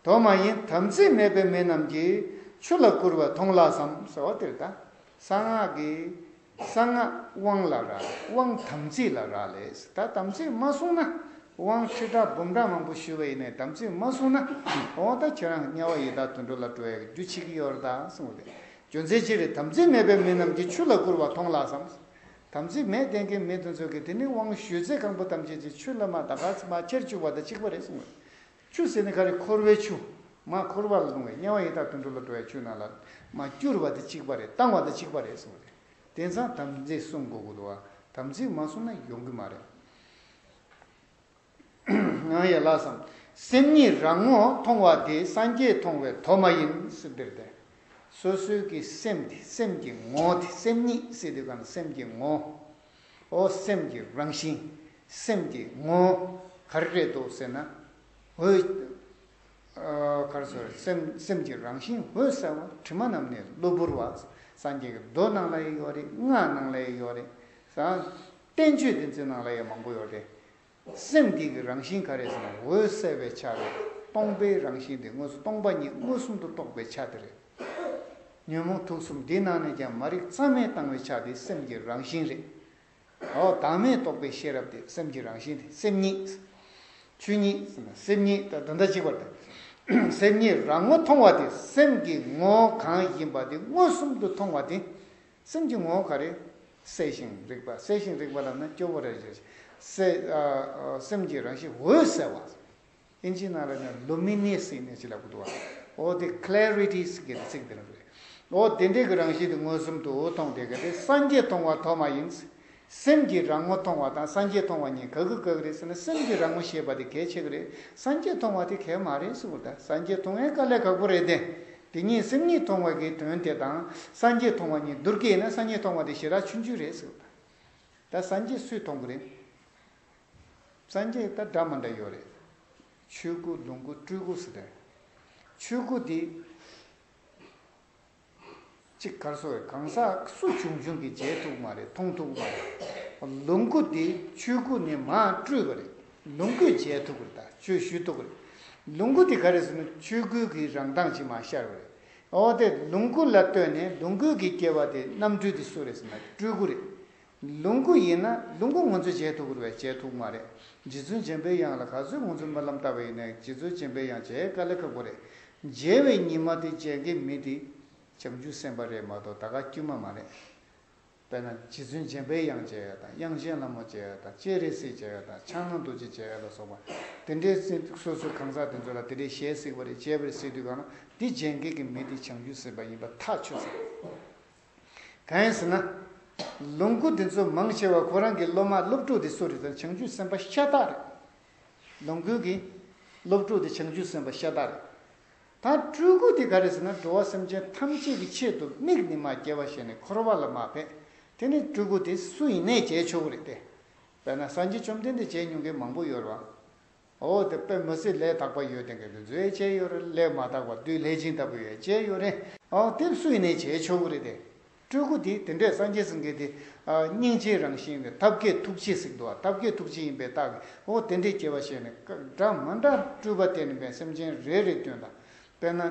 དོ་མ་ཡིན་དམ་ཚིག་མེད་པའི་མི་རྣམས་ཀྱིས་ཆུ་ལ་བསྐུར་བ་མཐོང་ལགས་སམ་ཟེར་བ་དེར་ད་གསང་སྔགས་ཀྱི་གསང་སྔགས་དབང་ལ་རག་དབང་དམ་ཚིག་ལ་རག་ལས་ད་དམ་ཚིག་མ་སྲུང་ན་དབང་ཁྲི་ཕྲག་འབུམ་ཕྲག་མང་པོ་ཞུས་བ་ཡིན་ནས་དམ་ཚིག་མ་སྲུང་ན་འོང་ད་ཁྱེད་རང་དམྱལ་བ་ཡི་དྭགས་དུད་འགྲོ་ལ་འགྲོ་ཡས་རྒྱུ་མཆིས་ཀྱི་ཡོད་རེད་ད་སོང་དེ་རྒྱུ་མཚན་ཅི་རེད་དམ་ཚིག་མེད་པའི་མི་རྣམས་ཀྱིས་ཆུ་ལ་བསྐུར་བ་མཐོང་ལགས་སམ་དམ་ཚིག་མས་བརྟན་མཁན་མེད་དུ་འཛོལ་གི་དེ་ནི་དབང་ཞུས་ཚེ་ཁང་བུ་ཐམས་ཅད་ཀྱི་ཆུ་བླ་མ་དང་ཁར་མ་ཁྱེར་བཅུག་པ་དང་གཅིག་པ་རེད་གསུང་བས། ཆུ་ཟེར་ནི་ཁ་རི་འཁོར་བའི་ཆུ། མ་འཁོར་བ་ལ་ལྷུང་བའི་དམྱལ་བ་ཡི་དྭགས་དུད་འགྲོ་ལ་འགྲོ་བའི་ཆུ་ནང་ལ་མ་བསྐྱུར་བ་དང་གཅིག་པ་རེད་བཏང་བ་དང་གཅིག་པ་རེད་གསུང་བས། དེང་སང་དམ་ཚིག་བསྲུང་དགོས་དགོས་འདུག་བ་དམ་ཚིག་མ་བསྲུང་ན་ཡོང་གི་མ་རེད། ངང་ཡལ་ལགས་སམ། སེམས་ཉིད་རང་ངོ་མཐོང་བ་དེ་སངས་རྒྱས་མཐོང་བའི་དོ་མ་ཡིན། འདིར་དེ་སོ་སོའི་ཀྱི་སེམས་དེ་སེམས་ཀྱི་ངོ་དེ་སེམས་ཉིད་སེ་དེ་གང་སེམས་ཀྱི་ངོ། ཨོ་སེམས་ཀྱི་རང་བཞིན་སེམས་ཀྱི་ངོ། ག་རེ་རེད་དོ་ཟེར་ན། འོད། ག་རེ་ཟེར་བ་སེམས་ཀྱི་རང་བཞིན་འོད་གསལ་བ་དྲི་མ་རྣམས་ནི་གློ་བུར་བ་སངས་རྒྱས་ཀྱི་མདོ་ནང་ལ་ཡོད་རེད་སྔགས་ནང་ལ་ཡོད་རེད། བསྟན་བཅོས་འདི་ཚོའི་ནང་ལ་ཡང་མང་པོ་ཡོད་རེད། སེམས་བསྐྱེད་ཀྱི་རང་བཞིན་ག་རེ་ཟེར་ན་འོད་གསལ་བའི་ཆ་རེད། སྟོང་པའི་རང་བཞིན་དེ་དངོས་སུ་སྟོང་པ་ཉིད་མངོན་སུམ་དུ་རྟོགས་པའི་ཆ་དེ་རེད། ཉོན་མོངས་དུག་གསུམ་འདི་ནང་ནས་ཀྱང་མ་རིག་གཙང་མས་བཏང་བའི་ཆ་དེ་སེམས་ཀྱི་རང་བཞིན་རེད། འོ་བདག་མེད་རྟོགས་པའི་ཤེས་རབ་དེ་སེམས་ཀྱི་རང་བཞིན་དེ་སེམས་ཉིད། ཆོས་ཉིད། སེམས་ཉིད་ད་དུང་ད་གཅིག་པར་དེ། སེམས་ཉིད་རང་ངོ་མཐོང་བ་དེ་སེམས་ཀྱི་ངོ་གང་ཡིན་པ་དེ་མངོན་སུམ་དུ་མཐོང་བ་དེ། སེམས་ཀྱི་ངོ་བོ་ག་རེ། གསལ་ཞིང་རིག་པ་གསལ་ཞིང་རིག་པ་ལ་ནི་སྐྱོ་བོ་རེ་བྱེད། སེམས་ཀྱི་རང་བཞིན་འོད་གསལ་བ། ཨིན་ཇི་ནཱ་ལ་ནི Luminous Energy ལ་བསྒྱུར་བ། འོ་དེ Clarity སི་གི་ཚིག་འདི་ནི། འོ་དེ་འདྲའི་གི་རང་བཞིན་དེ་མངོན་སུམ་དུ་འོ་མཐོང་དེ་ག་དེ་སངས་རྒྱས་མཐོང་བ་ཐོག་མ་ཡིན། སེམས་ཀྱི་རང་ངོ་མཐོང་བ་དང་སངས་རྒྱས་མཐོང་བ་གཉིས་ག་གི་ག་གི་རེད་ཟེར་ན་སེམས་ཀྱི་རང་ངོ་ཞེས་པ་དེ་གལ་ཆེ་གི་རེད་སངས་རྒྱས་མཐོང་བ་དེ་གལ་མ་རེད་ཟེར་བུ་ད་སངས་རྒྱས་མཐོང་བའི་དཀའ་ལས་ཁག་པོ་རེད་དེ། དེ་གཉིས་སེམས་ཉིད་མཐོང་བ་གི་དོན་དེ་དང་སངས་རྒྱས་མཐོང་བ་གཉིས་བསྡུར་གི་ཡིན་ན་སངས་རྒྱས་མཐོང་བ་དེ་ཞེ་དྲག་ཆུང་ཆུང་རེད་ཟེར་བུ་ད། ད་སངས་རྒྱས་སུས་མཐོང་གི་རེད། སངས་རྒྱས་ད་འདྲ་མ་འདྲ་ཡོད་རེད། ཆོས་སྐུ་ལོངས་སྐུ་སྤྲུལ་སྐུ་ཟེར་དོན། ཆོས་སྐུ་དེ། གཅིག་གར་སོ་བའི་གང་ཟག་སུ་བྱུང་བྱུང་གིས་མཇལ་ཐུག་མ་རེད་མཐོང་ཐུག་མ་རེད། ལུང་ཁུག་འདི་ཆོས་ཁུག་ནས་མ་སྤྲུལ་བ་རེད་ལུང་ཁུག་མཇལ་ཐུག་རེད་དག་ཆོས་ཞུས་ཐུག་རེད། ལུང་ཁུག་འདི་ག་རེད་ཟེར་ན་ཆོས་ཁུག་གི་རང་མདངས་ཅིག་མ་ཤར་བ་རེད། འོ་དེ་ལུང་ཁུག་ལ་ལྟོས་ནས་ལུང་ཁུག་གི་སྐྱེ་བ་དེ་རྣམ་སྤྲུལ་འདི་སུ་རེད་ཟེར་ན་སྤྲུལ་སྐུ་རེད། ལུང་ཁུག་ཡིན་ན་ལུང་ཁུག་ངོ་ཚོས་བྱས་ཐུག་བར་བས་བྱས་ཐུག་མ་རེད། རྗེ་བཙུན་སྦྱིན་པའི་དབྱངས་ལ་ག་ཚོད་ངོ་ཚོས་སྨོན་ལམ་བཏབ་པ་ཡིན་ནའི་རྗེ་བཙུན་སྦྱིན་པའི་དབྱངས་བྱས་དཀའ་ལས་ཁག་པོ་རེད། མཇལ་བའི་ཉིན་མ་དེ་མཇལ་མཁན་མི་དེ་བྱང་ཆུབ་སེམས་དཔའ་རེད་མ་གཏོགས་ད་གའ་དཀྱུས་མ་མ་རེད། དཔེར་ན་རྗེ་བཙུན་སྦྱིན་པའི་དབྱངས་བྱས་དང་དབྱངས་ཆེན་ལྷ་མོ་བྱས་དང་སྤྱན་རས་གཟིགས་བྱས་དང་ཕྱག་ན་རྡོ་རྗེ་བྱས་ལ་སོགས་པ་དེ་འདྲའི་སོ་སོའི་གང་ཟག་དེ་ཚོ་ལ་དེ་འདྲའི་ཞལ་གཟིགས་པ་རེ་བྱས་པ་རེ་གཟིགས་དུས་གང་ན་དེ་མཇལ་མཁན་གྱི་མི་དེ་བྱང་ཆུབ་སེམས་དཔའ་ཡིན་པ་ཐག་ཆོད་ཟེར། གང་ཟེར་ན། ལུང་ཁུག་འདི་ཚོ་མང་ཆེ་བ་ཁོ་རང་གི་སློབ་མ་སློབ་ཕྲུག་དེ་སུ་རེད་དམ་བྱང་ཆུབ་སེམས་དཔའ་ཤ་སྟག་རེད། ལུང་ཁུག་གི་སློབ་ཕྲུག་དེ་བྱང་ཆུབ་སེམས་དཔའ་ཤ་སྟག་རེད། ད་སྤྲུལ་སྐུ་དེ་ག་རེད་ཟེར་ན་འགྲོ་བ་སེམས་ཅན་ཐམས་ཅད་ཀྱི་ཆེད་དུ་མིག་ནི་མ་སྐྱེ་བ་ཞེས་ནས་འཁོར་བ་ལ་མ་ཕེབས་དེ་ནི་སྤྲུལ་སྐུ་དེ་སུ་ཡིན་ནས་བྱས་ཆོག་གི་རེད་དེ། དཔེར་ན་སངས་རྒྱས་བཅོམ་ལྡན་འདས་བྱས་མྱོང་མཁན་མང་པོ་ཡོད་རེད་བ། འོ་དེ་དཔེ་མི་སྲིད་ལས་དག་པ་ཡོད་དེ་འགལ་དུ་འཛུལ་བས་བཅད་ཡོད་རེད་ལས་མ་དག་པ་བདུད་ལྷས་བྱིན་ལྟ་བུ་ཡོད་བཅད་ཡོད་རེད། ཨོ་དེ་སུ་ཡིན་ནས་བྱས་ཆོག་གི་རེད་དེ། སྤྲུལ་སྐུ་དེ་དེ་འདྲས་སངས་རྒྱས་སུ་འགལ་ཏེ། སྙིང་རྗེའི་རང་བཞིན་ནི་ཐབས་མཁས་ཐུགས་རྗེ་ཟིག་འདུག་ཨ་ཐབས་མཁས་ཐུགས་རྗེ་ཡིན་པའི་རྟགས་ཀྱིས་ཨོ་དེ་འདྲས་སྐྱེ་བ་བཞེས་ནས་འདྲ་མི་འདྲ་སྤྲུལ་པ་དེ་ནི་བན་སེམས་ཅན་རེ་རེའི་སྐྱོན་དང། དཔེར་ན།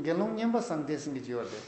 དགེ་སློང་སྙན་པ་སངས་རྒྱས་སུ་འགལ་གྱི་ཡོད་རེད།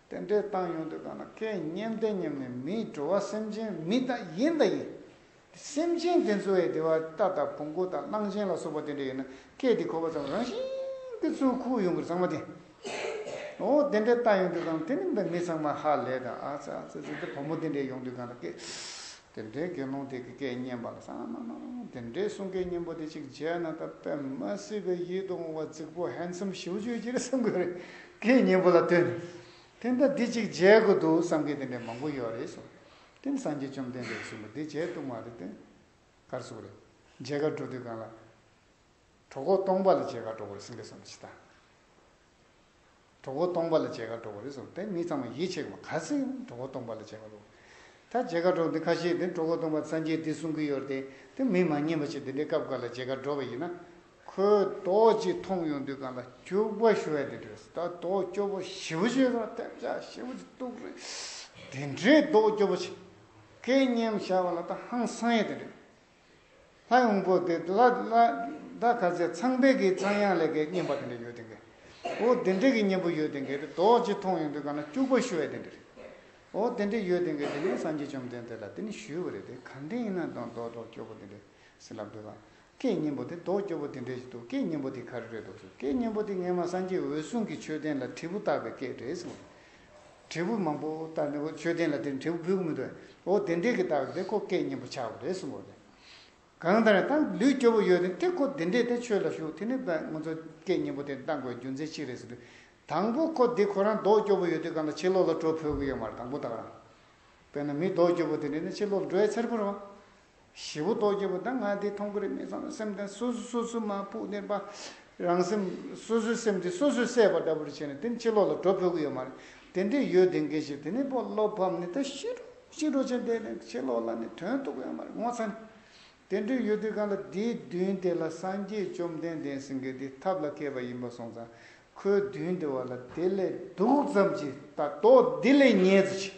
རྟེན་འབྲེལ་བཏང་ཡོང་དུས་གང་ན་སྐད་སྙན་བརྟན་སྙམ་ནས་མིའི་བྲོ་བ་སེམས་ཅན་མི་དང་ཡིན་དང་ཡིན། སེམས་ཅན་དེ་ཚོའི་བདེ་བ་རྟ་དང་བོང་གུ་དང་གླང་ཆེན་ལ་སོགས་པ་དེ་འདྲ་ཡིན་ན་སྐད་དེ་གོ་བ་ཙམ་རང་བཞིན་གྱི་ཚུར་ཁུག་ཡོང་གི་གཙང་མ་དེ། འོ་རྟེན་འབྲེལ་བཏང་ཡོང་དུས་གང་ན་དེ་རིང་འདི་མི་ཚང་མ་ཧ་ལས་དང་ཨ་ཙི་ཨ་ཙི་ཙི་འདི་བུ་མོ་དེ་འདྲས་ཡོང་དུས་གང་ན་སྐད་དེ་འདྲའི་དགེ་སློང་དེ་གི་སྐད་སྙན་པ་ལ་སང་ང་ང་ང་དེ་འདྲའི་གསུང་སྐད་སྙན་པོ་དེ་ཅིག་མཇལ་ན་ད་པད་མ་སྲིད་པའི་ཡིད་དུ་འོང་བ་རྫིག་པོ Handsome ཞིའུ་ཅོའི་སྐྱིད་བསམ་གྱི་རེད། སྐད་སྙན་པོ་ལ་ལྟོས་ནས་དེ་ལྟ་འདི་ཅིག་མཇལ་དགོས་འདུག་བསམ་མཁན་དེ་འདྲའི་མང་པོ་ཡོད་རེད་གསུང། དེང་སང་གི་བཅོམ་ལྡན་འདས་གསུང་པོ་འདི་མཇལ་བཏུག་མ་རེད་དེ། གར་སོང་རེད། མཇལ་ཁར་འགྲོ་དུས་གང་ལ། གྲོགས་ཁོག་སྟོང་པ་ལ་མཇལ་ཁར་འགྲོ་དགོས་རེད་གསུང་སྐད་གསུང་པ་ཇི་ལྟ། གྲོགས་པོ་སྟོང་པ་ལ་བྱད་ཁ་སྒྲོག་པ་རེད་ཟེར་དེ་མི་ཚང་མ་ཡིད་ཆེས་པ་ག་ཚོད་ཡིན་གྲོགས་པོ་སྟོང་པ་ལ་བྱད་ཁ་སྒྲོག་ད་བྱད་ཁ་སྒྲོག་འདི་ཁ་ཤས་དེ་གྲོགས་པོ་སྟོང་པ་རྩ་མཆན་འདི་གསུང་གི་ཡོད་དེ་དེ་མི་མ་ཉན་པ་ཞིག་འདི་འདྲའི་སྐབས་འགར་ལ་བྱད་ཁ་སྒྲོག་པ་ཡིན་ན་ཁོས་རྡོག་གཅིག་མཐོང་ཡོང་དུས་གང་ལ་སྐྱུག་པ་ཞུ་ཡ་དེ་འདྲ་རེད་ད་རྡོག་སྐྱོ་པོ་ཞི་བོ་ཞིག་དང་ཐེབས་ཆག་ཞི་བོ་ཞིག་གཏུགས་རེད་དེ་འདྲའི་རྡོག་སྐྱོ་པོ་ཞིག་སྐད་སྙན་བྱ་བ་ལ་ད་ཧང་སང་ཡ་དེ་འདྲ་རེད། ལྷ་ཡོངས་པོ་དེ་ལ་ལྷ་ཁ་ཟས་ཚངས་པའི་གའི་ཚངས་དབྱངས་ལས་ཀའི་བསྙེན་པ་དེ་འདྲ་ཡོད་དེ་འགས། འོ་དེ་འདྲས་ཀྱི་བསྙེན་པོ་ཡོད་དེ་འགས་དེ་རྡོ་རྗེ་ཐོང་ཡོང་དུས་གང་ན་སྐྱུག་པ་ཤུ་བས་དེ་འདྲས། འོ་དེ་འདྲས་ཡོད་དེ་འགས་དེ་ནས་སངས་རྒྱས་བཅོམ་ལྡན་འདས་ལ་དེ་ནས་ཞུས་པ་རེད་དེ་གང་དེ་ཡིན་ན་དང་རྡོ་རྡོ་སྐྱོ་པོ་དེ་འདྲས་ཟིན་ལབ་འདོད་ལ། ཀའི་བསྙེན་པོ་དེ་རྡོ་སྐྱོ་པོ་དེ་འདྲས་ཞིག་འདུག་ཀའི་བསྙེན་པོ་དེ་ག་རེ་རེད་འདུག་ཟེར་ཀའི་བསྙེན་པོ་དེ་ངེད་མ་སངས་རྒྱས་འོད་སྲུང་གི་མཆོད་རྟེན་ལ་དྲིལ་བུ་བཏགས་པའི་སྐད་རེད་ཟེར། དྲིལ་བུ་མང་པོ་བཏགས་ནས་འོ་མཆོད་རྟེན་ལ་དེར་དྲིལ་བུ་འབུལ་དགོས་མི་འདུག་འོ་དེ་འདྲས་ཀྱིས་བཏགས་པ་དེ་ཁོ་སྐད་སྙན་པོ་ཆགས་པ་རེད་གསུངས་པ་རེད། གང་ལྟར་ད་ལུས་སྐྱོ་བོ་ཡོད་དེ་ཁོ་དེ་འདྲས་དེ་ཆོས་ལ་ཞུགས་དེ་ནི་ང་ཚོ་སྐད་སྙན་པོ་དེ་གཏང་དགོས་རྒྱུ་མཚན་གཅིག་རེད་ཟེར་དུས། དང་པོ་ཁོ་འདི་ཁོ་རང་མདོག་སྐྱོ་བོ་ཡོད་དུས་གང་ལྟར་ཕྱི་ལོག་ལ་འགྲོ་ཕོད་ཀྱི་ཡོད་མ་རེད་དང་པོ་དང་རང་དཔེ་ན་མི་མདོག་སྐྱོ་བོ་དེ་འདྲས་ནི་ཕྱི་ལོག་ལ་འགྲོ་ཡ་འཚེར་པོ་རེད། བཞི་པོ་རྡོ་རྗེ་པོ་དང་ལྔ་སྡེའི་མཐོང་གི་རིག་མེད་ཚང་ལ་སེམས་བརྟན་སོ་སོ་སོ་སོའི་མ་བུ་བརྟན་པ། རང་སེམས་སོ་སོའི་སེམས་དེ་སོ་སོས་སད་པ་འདྲ་པོ་རེ་བྱས་ནས་དེ་ནི་ཕྱི་ལོགས་ལ་གྲོ་ཕོད་ཀི་ཡོད་མ་རེད་དེ་འདྲས་ཡོད་དེ་འགའ་ཞིག་དེ་ནས་བློ་ཕམ་ནས་ད་ཤི་འགྲོ་ཤི་འགྲོ་བྱས་བསྡད་ནས་ཕྱི་ལོགས་ལ་ནི་དོན་རྟོགས་ཀི་ཡོད་མ་རེད་ངོ་ཚ་ནི། དེ་འདྲས་ཡོད་དུས་གང་ལ་དེའི་མདུན་དེ་ལ་སངས་རྒྱས་བཅོམ་ལྡན་འདས་སེང་གེ་དེའི་ཐབས་ལ་མཁས་པ་ཡིན་པ་སོང་ཙང་ཁོའི་མདུན་དེ་བ་ལ་དེ་ལས་སྡུག་ཙམ་གྱིས་ད་དོག་འདི་ལས་ཉེས་ཙི་ཆི།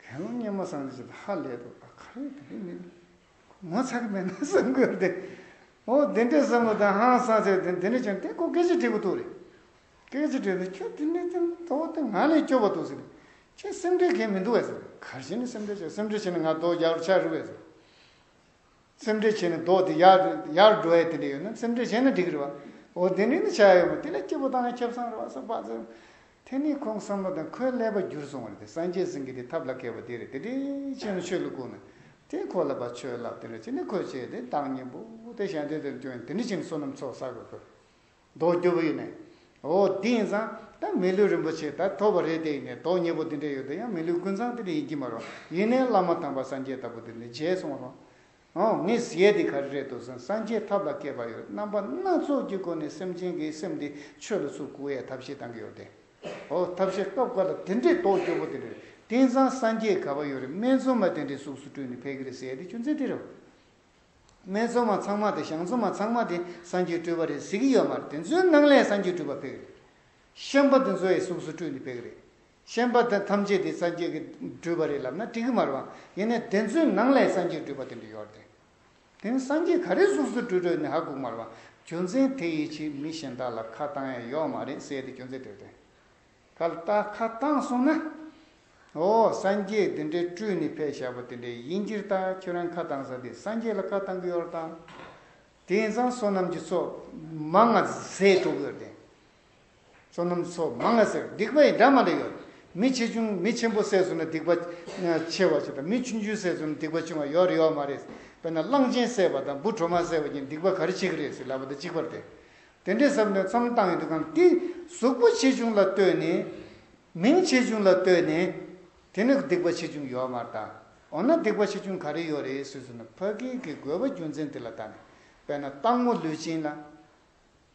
དགེ་སློང་སྙན་མོ་སངས་རྒྱས་ཀྱིས་ཧ་ལས་དོ་ད་ག་རེ་དེ་རེ་མི་དགོས། ངོ་ཚ་གི་མེད་ན་བསམ་དགོས་པ་དེ། འོ་དེ་འདྲའི་བསམ་བློ་དང་ཧང་སང་ཚད་དེ་འདི་ནས་བྱུང་དེ་ཁོ་སྐད་ཆ་དྲིས་པོ་འདུག་རེད། སྐད་ཆ་དྲིས་ན་ཁྱོད་དེ་འདྲའི་ཙན་དོག་དེ་ང་ལས་སྐྱོ་བ་འདུག་ཟེར་ནས་ཁྱོད་སེམས་ཁྲལ་གལ་མི་འདུག་བས་ཟེར་ནས་གར་བཞིན་ནས་སེམས་ཁྲལ་བྱས་སེམས་ཁྲལ་བྱས་ན་ང་དོག་རྒྱག་རུ་ཆགས་རི་བས་ཟེར། སེམས་ཁྲལ་བྱས་ནས་ལྡོག་དེ་ཡག་ཡག་འགྲོ་ཡ་དེ་འདྲ་ཡོད་ན་སེམས་ཁྲལ་བྱས་ན་འགྲིག་རེད་བ། འོ་དེ་འདྲའི་ནི་བྱ་ཡ་ཡོད་མོད་དེ་ལ་སྐྱིད་པོ་བཏང་ན་ཁྱབ་སངས་རེད་བ་སོགས་བག་ཙེ། དེ་ནི་ཁོང་བསམ་བློ་དང་ཁོའི་ཀླད་པ་བསྒྱུར་སོང་བ་རེད་དེ་སངས་རྒྱས་སེང་གེ་དེ་ཐབས་ལ་མཁས་པ་དེ་རེད་དེ་འདྲའི་ཆོས་ནི་ཆོས་ལུགས་ཁོ་ན་དེ་ཁོ་ལ་བ་ཆོས་ལབ་དེ་འདྲ་བྱས་ནས་ཁོས་བྱས་དེ་བདག་གཉེན་པོ་དེ་ཞལ་འདེབས་དེ་ལ་སྐྱོན་ཡིན་དེ་འདྲ་བྱས་ནས་བསོད་ནམས་ཚོགས་བསགས་དགོས་ཁོས། མདོག་སྐྱོ་བོ་ཡིན། འོ་དེ་ཡིན་ཙང་ད་མི་ལུས་རིན་པོ་ཆེ་ད་ཐོབ་པ་རེད་དེ་ཡིན། མདོག་མྱེས་པོ་དེ་འདྲ་ཡོད་དོ་ཡང་མི་ལུས་ཀུན་བཟང་དེ་འདྲ་ཡིན་གྱི་མ་རུང་ཡིན་ནའི་བླ་མ་དམ་པ་སངས་རྒྱས་ལྟ་བུ་དེ་འདྲ་མཇལ་སོང་རུང། འོ་ངས་ཟེར་དེ་ག་རེ་རེད་འདུག་སེམས་སངས་རྒྱས་ཐབས་ལ་མཁས་པ་ཡོད་རྣམ་པ་སྣ་ཚོགས་ཀྱི་སྒོ་ནས་སེམས་ཅན་གྱི་སེམས་དེ་ཆོས་ལ་ཚུར་བཀུར་བའི་ཐབས་ཤེས་གཏང་གི་ཡོད་དེ། འོ་ཐབས་ཤེས་སྐབས་འགའ་ལ་དེ་འདྲའི་མདོག་སྐྱོ་བོ་དེ་འདྲ་རེད་དེ་ཡིན་ཙང་སངས་རྒྱས་ག་བ་ཡོད་རེད་སྨད་འཚོང་མ་དེ་འདྲའི་གཟུགས་སུ་སྤྲུལ་ནས་ཕེབས་གི་རེད་ཟེར་དེ་ཆུ་འཛིན་དེ་རེད། སྨད་འཚོང་མ་ཚང་མ་དང་ཞང་འཚོང་མ་ཚང་མ་དེ་གསང་རྒྱུད་སྤྲུལ་བ་རེད་ཟེར་གྱི་ཡོད་མ་རེད་དེ་ཚོའི་སྣང་ལས་གསང་རྒྱུད་སྤྲུལ་པ་ཕེབས་གི་རེད། གཤེན་པ་དེ་ཚོ་ཡི་གཟུགས་སུ་སྤྲུལ་འདི་ཕེབས་གི་རེད། གཤེན་པ་དེ་ཐམས་ཅད་དེ་གསང་རྒྱུད་ཀྱི་སྤྲུལ་བ་རེད་ལབ་ན་འགྲིག་གི་མ་རེད་བ། ཡིན་ནའི་དེ་ཚོའི་ནང་ལས་གསང་རྒྱུད་སྤྲུལ་པ་དེ་འདྲ་ཡོད་རེད་དེ། དེ་གསང་རྒྱུད་ག་རེ་གཟུགས་སུ་སྤྲུལ་འགྲོ་ཡི་ནི་ཧ་གོ་མ་རེད་བ། རྒྱུ་མཚན་དེ་ཡི་ཕྱིར་མི་གཞན་དག་ལ་ཁ་བཏང་ཡས་ཡོད་མ་རེད་ཟེར་དེ་རྒྱུ་མཚན་དེ་རེད་དེ། ཁ་ལྟ་ཁ་བཏང་སོང་ན། ཨོ། སངས་རྒྱས་འདི་འདྲའི་སྤྲུལ་ནི་ཕས་ཞབས་པ་དེ་འདྲའི་དབྱིན་ཇིར་ལྟ་ཁྱོད་རང་ཁ་བཏང་ས་དེ་སངས་རྒྱས་ལ་ཁ་བཏང་གི་ཡོད་ར་བཏང། དེང་སང་བསོད་ནམས་ཀྱི་ཚོགས་མ་ལྔ་ཟས་དྲུག་ཡོད་དེ། བསོད་ནམས་ཚོགས་མ་ལྔ་ཟས་སྡིག་པ་ཡི་འདྲ་མ་འདྲ་ཡོད། མི་ཆེ་ཆུང་མི་ཆེན་པོ་ཟས་བསོད་ན་སྡིག་པ་ཆེ་བ་ཞིག་དང་མི་ཆུང་ཆུང་ཟས་བསོད་ན་སྡིག་པ་ཆུང་བ་ཡོད་རེད་ཡོད་མ་རེད། དཔེར་ན་གླང་ཆེན་ཟས་པ་དང་འབུ་གྲོག་མ་ཟས་པ་གྱི་སྡིག་པ་ག་རེ་ཆེ་གི་རེད་ཟེར་ལབ་པ་དང་གཅིག་པར་དེ། དེ་འདྲའི་ཟབ་མོའི་མཚམས་བཏང་ཡོད་ཀྱང་དེ་གཟུགས་པོ་ཆེ་ཆུང་ལ་ལྟོས་ནས། མིང་ཆེ་ཆུང་ལ་ལྟོས་ནས། དེ་ནི་སྡིག་པ་ཆེ་ཆུང་ཡོད་མར་ལྟ། འོ་ན་སྡིག་པ་ཆེ་ཆུང་ག་རེ་ཡོད་རེད་ཟེར་ཟེར་ན་ཕ་གིའི་གི་རྒོལ་བ་རྒྱུ་མཚན་དེ་ལ་ལྟ་ནས་དཔེར་ན་སྟག་མོ་ལུས་ཅན་ལ།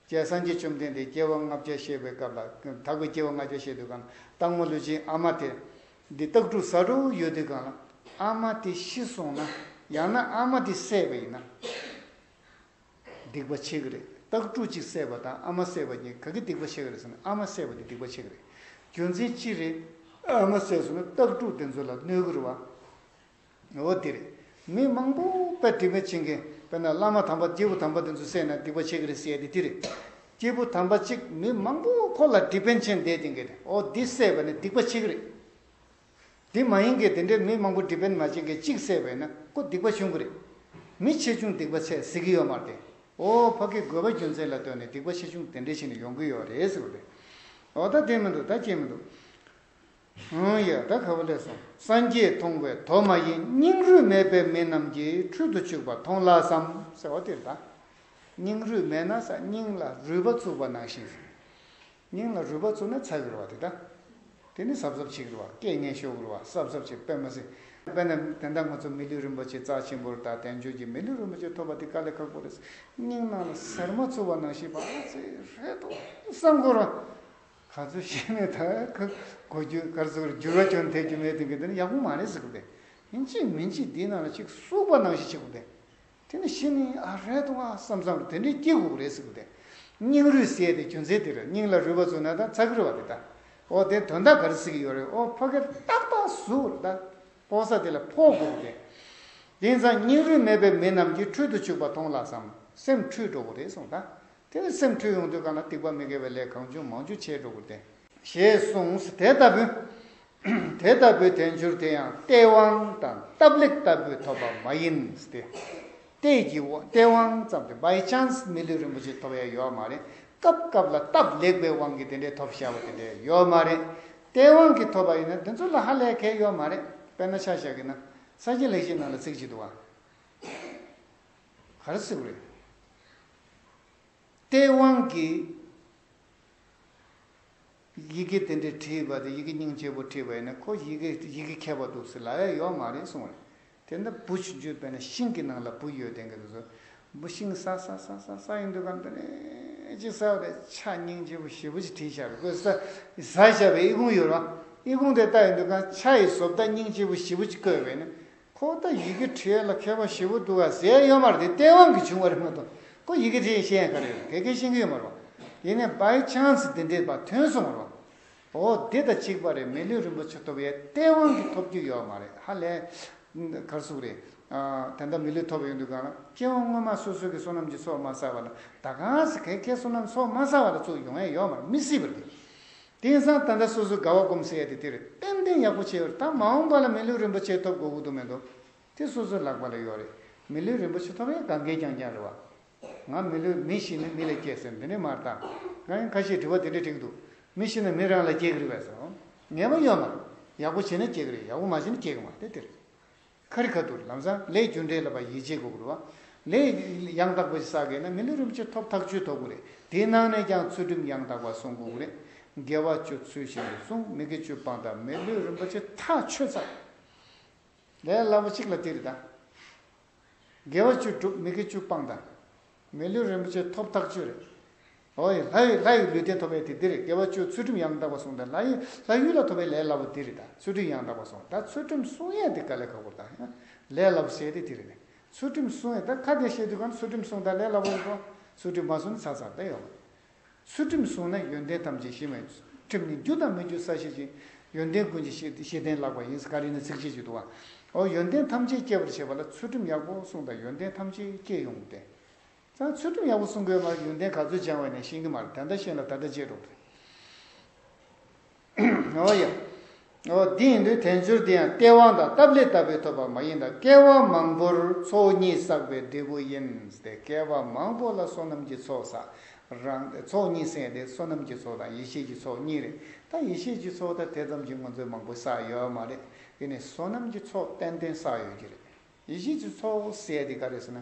རྒྱལ་སངས་རྒྱས་བཅོམ་ལྡན་འདས་སྐྱེ་བ་ལྔ་བརྒྱ་བཤད་པའི་སྐབས་ལ་དྭགས་པོའི་སྐྱེ་བ་ལྔ་བརྒྱ་བཤད་དུས་གང་ལ་སྟག་མོ་ལུས་ཅན་ཨ་མ་དེ། འདི་སྟག་ཕྲུག་ཟ་ཧྲུལ་བོ་ཡོད་དུས་གང་ལ་ཨ་མ་དེ་ཤི་སོང་ན་ཡང་ན་ཨ་མ་དེ་བསད་པ་ཡིན་ན། སྡིག་པ་ཆེ་གི་རེད་སྟག་ཕྲུག་གཅིག་བསད་པ་དང་ཨ་མ་བསད་པ་གཉིས་ག་གི་སྡིག་པ་ཆེ་གི་རེད་ཟེར་ན་ཨ་མ་བསད་པ་དེ་སྡིག་པ་ཆེ་གི་རེད་རྒྱུ་མཚན་ཅི་རེད། ཨ་མ་བསད་ཟེར་ན་སྟག་ཕྲུག་དེ་ཚོ་ལ་གནོད་གི་རེད་བ། འོ་དེ་རེད། མི་མང་པོ་དཔེ་དེ་མེད་བྱེད་མཁན་དཔེར་ན་བླ་མ་དམ་པ་སྐྱེས་བུ་དམ་པ་དེ་ཚོ་བསད་ན་སྡིག་པ་ཆེ་གི་རེད་ཟེར་ཡ་དེ་དེ་རེད། སྐྱེས་བུ་དམ་པ་གཅིག་མི་མང་པོ་ཁོ་ལ་དྲི་དཔོན་ཆེན་འདས་དེ་འགས་ཨོ་འདི་བསད་པ་ནི་སྡིག་པ་ཆེ་གི་རེད། དེ་མ་ཡིན་གྱི་དེ་འདྲའི་མི་མང་པོ་སྒྲིབ་པན་མ་བྱིན་གྱིས་གཅིག་བསད་པས་ན་ཀོ་སྡིག་པ་ཆུང་གི་རེད། མི་ཆེ་ཆུང་སྡིག་པ་ཆེ་ཟེར་གྱི་ཡོད་མ་རེད་དེ། ཨོ་ཕ་ཀི་དགོས་པ་རྒྱུ་མཚན་ལ་ལྟོས་ནས་སྡིག་པ་ཆེ་ཆུང་དེ་འདྲའི་ཆེ་ནས་ཡོང་གི་ཡོད་རེད་ཟེར་བ་རེད། འོ་ད་དེ་མི་འདུག་ད་ཅི་མི་འདུག། ཧུན་ཡ་ད་ག་པ་ལས་སོང་སངས་རྒྱས་མཐོང་བས་དོ་མ་ཡིན་སྙིང་རུས་མེད་པའི་མི་རྣམས་ཀྱིས་འཕྲུལ་དུ་བཅུག་པ་མཐོང་ལགས་སམ་ཟེར་བ་དེ་རེད། སྙིང་རུས་མེད་ན་ས་སྙིང་ལ་རུས་པ་བཙུགས་པ་ནང་བཞིན། སྙིང་ལ་རུས་པ་བཙུགས་ན་ཚ་གི་རུ་བ་དེ་དག་དེ་ནི་ཟབ་ཟབ་བྱེད་གི་རུ་བ་སྐད་ངན་ཤོར་གི་རུ་བ་ཟབ་ཟབ་བྱེད་དཔེ་མ་ཟིན་པས་ན་དེ་འདྲ་ང་ཚོ་མི་ལུས་རིན་པོ་ཆེ་རྩ་ཆེན་པོར་དང་དལ་འབྱོར་གྱི་མི་ལུས་རིན་པོ་ཆེ་ཐོབ་པ་དེ་དཀའ་ལས་ཁག་པོ་རེད་སྙིང་ནང་ལ་ཟེར་མ་བཙུགས་པ་ནང་ཞིག་བག་ཚེ་རེད་དོ་བསམ་དགོས་རོ། ག་ཚོད་ཤི་ནས་ད་ག་གོ་རྒྱུ་གར་ཚུགས་ཀར་འགྱུར་བ་གྱོན་ཐེབས་རྒྱུ་མེད་ཐེངས་གི་འདི་ནི་ཡག་པོ་མ་རེད་ཟེར་གི་བས་ཡིན་གཅིག་མིན་གཅིག་འདིའི་ནང་ལ་གཅིག་སུག་པ་ནང་ཞིག་བྱེད་དགོས་བས་དེ་ནི་ཤི་ནི་ཨ་རལ་ཏུ་ཨང་བསམ་བསམ་དེ་འདྲའི་སྐྱིད་གུག་རེད་ཟེར་གི་འདུག་སྙིང་རུས་བསྲེས་ཏེ་རྒྱུ་མཚན་དེར་སྙིང་ལ་རུས་པ་བཙུགས་ན་དང་ཚ་གུར་བ་དེ་དང་ཨོ་དེ་དོན་དག་ག་རེ་ཟེར་གི་ཡོད་རེད་ཨོ་ཕོ་ཁེར་ཏག་ཏག་ཟུག་རེད་དང་ཕོ་ས་དེ་ལ་ཕོ་གུག་རེད། དེང་སང་སྙིང་རུས་མེད་པའི་མི་རྣམས་ཀྱིས་འཁྲུལ་དུ་བཅུག་པ་མཐོང་ལགས་སམ་སེམས་འཁྲུལ་འགྲོ་གི་རེད་གསུངས་དང་དེ་ནི་སེམས་འཁྲུལ་ཡོང་དུས་གང་ལ་སྡིག་པ་མི་དགེ་བའི་ལས་གང་བྱུང་མང་བྱུང་བྱས་འགྲོ་གི་རེད། ཞེས་གསུངས་དེ་ལྟ་བུ། དེ་ལྟ་བུའི་དལ་འབྱོར་དེ་ཡང་སྟེས་དབང་དང་སྟབས་ལེགས་ལྟ་བུས་ཐོབ་པ་མ་ཡིན་ཏེ། སྟེས་ཀྱི་སྟེས་དབང་ཙམ་སྟེ By Chance མི་ལུས་རིན་པོ་ཆེ་ཐོབ་ཡ་ཡོད་མ་རེད། སྐབས་སྐབས་ལ་སྟབས་ལེགས་པའི་དབང་གིས་དེ་འདྲའི་ཐོབ་བྱ་བ་དེ་འདྲའི་ཡོད་མ་རེད། སྟེས་དབང་གིས་ཐོབ་པ་ཡིན་ན་དེ་ཚོ་ལ་ཧ་ལས་ཁེལ་ཡོད་མ་རེད། དཔེར་ན་ཆ་བཞག་གིས་ན། ས་སྐྱའི་ལེགས་བྱས་ནང་ལ་ཚིག་ཅིག་འདུག་ཨ། ག་རེ་སྲིད་པ་རེད། སྟེས་དབང་གིས། ཡི་གེ་དེ་འདྲས་བྲིས་པ་དེ་ཡི་གེ་སྙིང་རྗེ་བོ་བྲིས་པ་ཡིན་ན་ཁོ་ཡི་གེ་ཡི་གེ་མཁས་པ་འདུག་ཟེར་ལ་ཡ་ཡོག་མ་རེད་གསུང་བ་རེད། དེ་ལྟར་ན་བུ་ཞིག་བརྗོད་པས་ན་ཤིང་གི་ནང་ལ་བུ་ཡོད་དེ་གི་དུས་སུ་བུ་ཤིང་སྲ་སྲ་སྲ་སྲ་སྲ་ཡིན་དུས་གམ་དུ་ནས་ཅིག་སྲ་བ་རེད་ཆ་སྙིང་རྗེ་བོ་ཞེས་བུ་ཞིག་བྲིས་ཤར་བཀོད་ས་ས་བྱ་བའི་ཨི་ཁུང་ཡོད་རོ། ཨི་ཁུང་དེ་ལྟ་ཡིན་དུས་གམ་ཆ་ཡི་བཟོ་བལྟ་སྙིང་རྗེ་བོ་ཞེས་བུ་ཅིག་བཀོད་པས་ན་ཁོང་ད་ཡི་གེ་བྲིས་ལ་མཁས་པ་བཞི་བོ་འདུག་ག་ཟེར་ཡོད་མར་དེ་བསྟན་དབང་གི་བྱུང་བ་རེད་མ་གཏོགས་ཁོ་ཡི་གེ་བྲིས་ཤེས་ཡན་ག་རེ་རེད་དེ་གས་ཤེས་གི་ཡོད་མ་རེད་བ། ཡིན་ནའི by chance དེ་འདྲས་པ་ཐོན་སོང་མ་རེད་བ། འོ་འདི་ད་གཅིག་པ་རེད་མི་ལུས་རིན་པོ་ཆེ་ཐོབ་ཡས་བསྟན་དབང་གི་ཐོབ་རྒྱུ་ཡོད་མ་རེད་ཧ་ལས། གར་གཟུགས་རེད། དེ་འདྲ་མི་ལུས་ཐོབ་ཡོད་འདུག་ག་ལ་སྤྱི་དབང་སྔོན་མ་སོ་སོ་གི་བསོད་ནམས་ཀྱི་ཚོགས་མ་བསགས་པ་ལ་ད་གང་ཟེ་གས་ཁས་བསོད་ནམས་ཚོགས་མ་བསགས་པ་ལ་ཚོགས་ཡོང་ཡས་ཡོད་མ་རེད་མི་སྲིད་པ་རེད། དེང་སང་ད་ལྟ་སོ་སོའི་དགའ་བ་སྒོམ་ཟེར་ཡ་དེ་དེར་ཏན་ཏན་ཡག་པོ་བྱས་པར་ད་མ་འོངས་པ་ལ་མི་ལུས་རིན་པོ་ཆེ་ཐོབ་དགོས་དགོས་དོན་མེད་དོ། དེ་སོ་སོའི་ལག་པ་ལ་ཡོད་རེད། མི་ལུས་རིན་པོ་ཆེ་ཐོབ་ཡ་ག་འགས་ཀྱང་ཀྱང་རེད་བ། ང་མི་ལུས་མི་ཤི་ན་མི་ལ་སྐྱེ་ཟེར་འདི་འདྲའི་མར་བཏགས། ང་ཡང་ཁ་ཤས་དྲི་བ་དེ་འདྲ་དྲིས་འདུག་མི་ཤི་ན་མི་རང་ལ་སྐྱེ་གི་རེད་བས་སོ། ངེས་པ་ཡོད་མ་རེད། ཡག་པོ་བྱས་ན་སྐྱེ་གི་རེད་ཡག་པོ་མ་བྱས་ན་སྐྱེ་གི་མ་རེད་དེ་རེད། ཁ་རི་ཁ་ཐུར་ལམ་སང་ལས་རྒྱུ་འབྲས་ལ་བ་ཡིད་ཆེས་དགོས་དགོས་རེད། ལས་ཡང་དག་པ་ཞིག་བསགས་དགོས་ན་མི་ལོ་རིམ་བྱེད་ཐོབ་ཐག་ཆོད་ཐོབ་དགོས་རེད་དེའི་ནང་ནས་ཀྱང་ཚུལ་ཁྲིམས་ཡང་དག་པ་སྲུང་དགོས་རེད། དགེ་བ་སྤྱོད་ཚུལ་བཞིན་དུ་སྲུང་མི་དགེ་སྤྱོད་སྤང་དང་མི་ལོས་རིན་པོ་ཆེ་ཐག་ཆོད་ཚར། ལས་སླ་བོ་གཅིག་ལ་དེ་རེད་ད། དགེ་བ་བཅུ་སྒྲུབ་མི་དགེ་བཅུ་སྤང་དང། མི་ལོས་རིན་པོ་ཆེ་ཐོབ་ཐག་ཆོད་རེད། ཧོ་ཡིས་ལྷ་ཡི་ལྷ་ཡི་ལུས་རྟེན་ཐོབ་པའི་དེ་འདིར་དགེ་བ་བཅུ་ཚུལ་ཁྲིམས་ཡང་དག་པར་བསྲུངས་དང་ལྷ་ཡི་ལྷ་ཡུལ་ལ་ཐོབ་པའི་ལས་སླ་པོ་འདིར་དང་ཚུལ་ཁྲིམས་ཡང་དག་པར་བསྲུངས་དང་ཚུལ་ཁྲིམས་བསྲུང་ཡས་འདི་ཀ་ལས་ཁ་བསྒོམ་དང་ལས་སླ་པོ་བྱས་ཏེ་དེར་ནི་ཚུལ་ཁྲིམས་བསྲུང་ཡས་དང་ཁ་བདེ་ཤེས་དུས་གང་ཚུལ་ཁྲིམས་བསྲུངས་དང་ལས་སླ་པོ་བསྲུངས་ཚུལ་ཁྲིམས་མ་བསྲུངས་ནི་ཚ་ཚ་དང་ཡོང་ངོ། ཚུལ་ཁྲིམས་བསྲུངས་ན་ཡོན་ཏན་ཐམས་ཅད་ཞི་བའི་ཁྲིམས་ནི་རྒྱུ་དང་མི་རྒྱུ་ས་ཤེས་ཅིང་ཡོན་ཏན་ཀུན་གྱི་ཤེས་ཤེས་ལྡན་ལགས་པ་ཡིན་ཀ་རི་ནི་ཚིགས་བཅད་གཅིག་ཏུ་བ། ཨོ་ཡོན་ཏན་ཐམས་ཅད་སྐྱེད་པར་བྱེད་པ་ལ་ཚུལ་ཁྲིམས་ཡག་པོ་བསྲུངས་དང་ཡོན་ཏན་ཐམས་ཅད་སྐྱེད་ཡོང་སྟེ། ཚང་ཚུལ་ཁྲིམས་ཡག་པོ་སྲུང་དགོས་མར་ཡོན་ཏན་ག་ཚོད་སྦྱང་བའི་ནས་ཤིང་གི་མར་ད་ལྟ་ཤེས་ལ་ད་ལྟ་བརྗེད་འགྲོ་གི་རེད་ཨོ་ཡ། ཨོ་འདི་ཡིན་དུས་དལ་འབྱོར་འདི་ཡང་སྟེས་དབང་དང་སྟབས་ལེགས་ལྟ་བུས་ཐོབ་པ་མ་ཡིན་ད་སྐལ་བ་མང་པོར་ཚོགས་གཉིས་བསགས་པའི་འབྲས་བུ་ཡིན་ཏེ་སྐལ་བ་མང་པོ་ལ་བསོད་ནམས་ཀྱི་ཚོགས་བསགས་རང་ཏེ་ཚོགས་གཉིས་བསྲེས་ཏེ་བསོད་ནམས་ཀྱི་ཚོགས་དང་ཡེ་ཤེས་ཀྱི་ཚོགས་གཉིས་རེད་ད་ཡེ་ཤེས་ཀྱི་ཚོགས་ད་དེ་ཙམ་གྱིས་ང་ཚོས་མང་པོ་བསགས་ཡོད་མ་རེད་དེ་ནས་བསོད་ནམས་ཀྱི་ཚོགས་ཏན་ཏན་བསགས་ཡོད་ཀྱི་རེད། ཡེ་ཤེས་ཀྱི་ཚོགས་བསལ་དེ་ག་རེད་ཟེར་ན།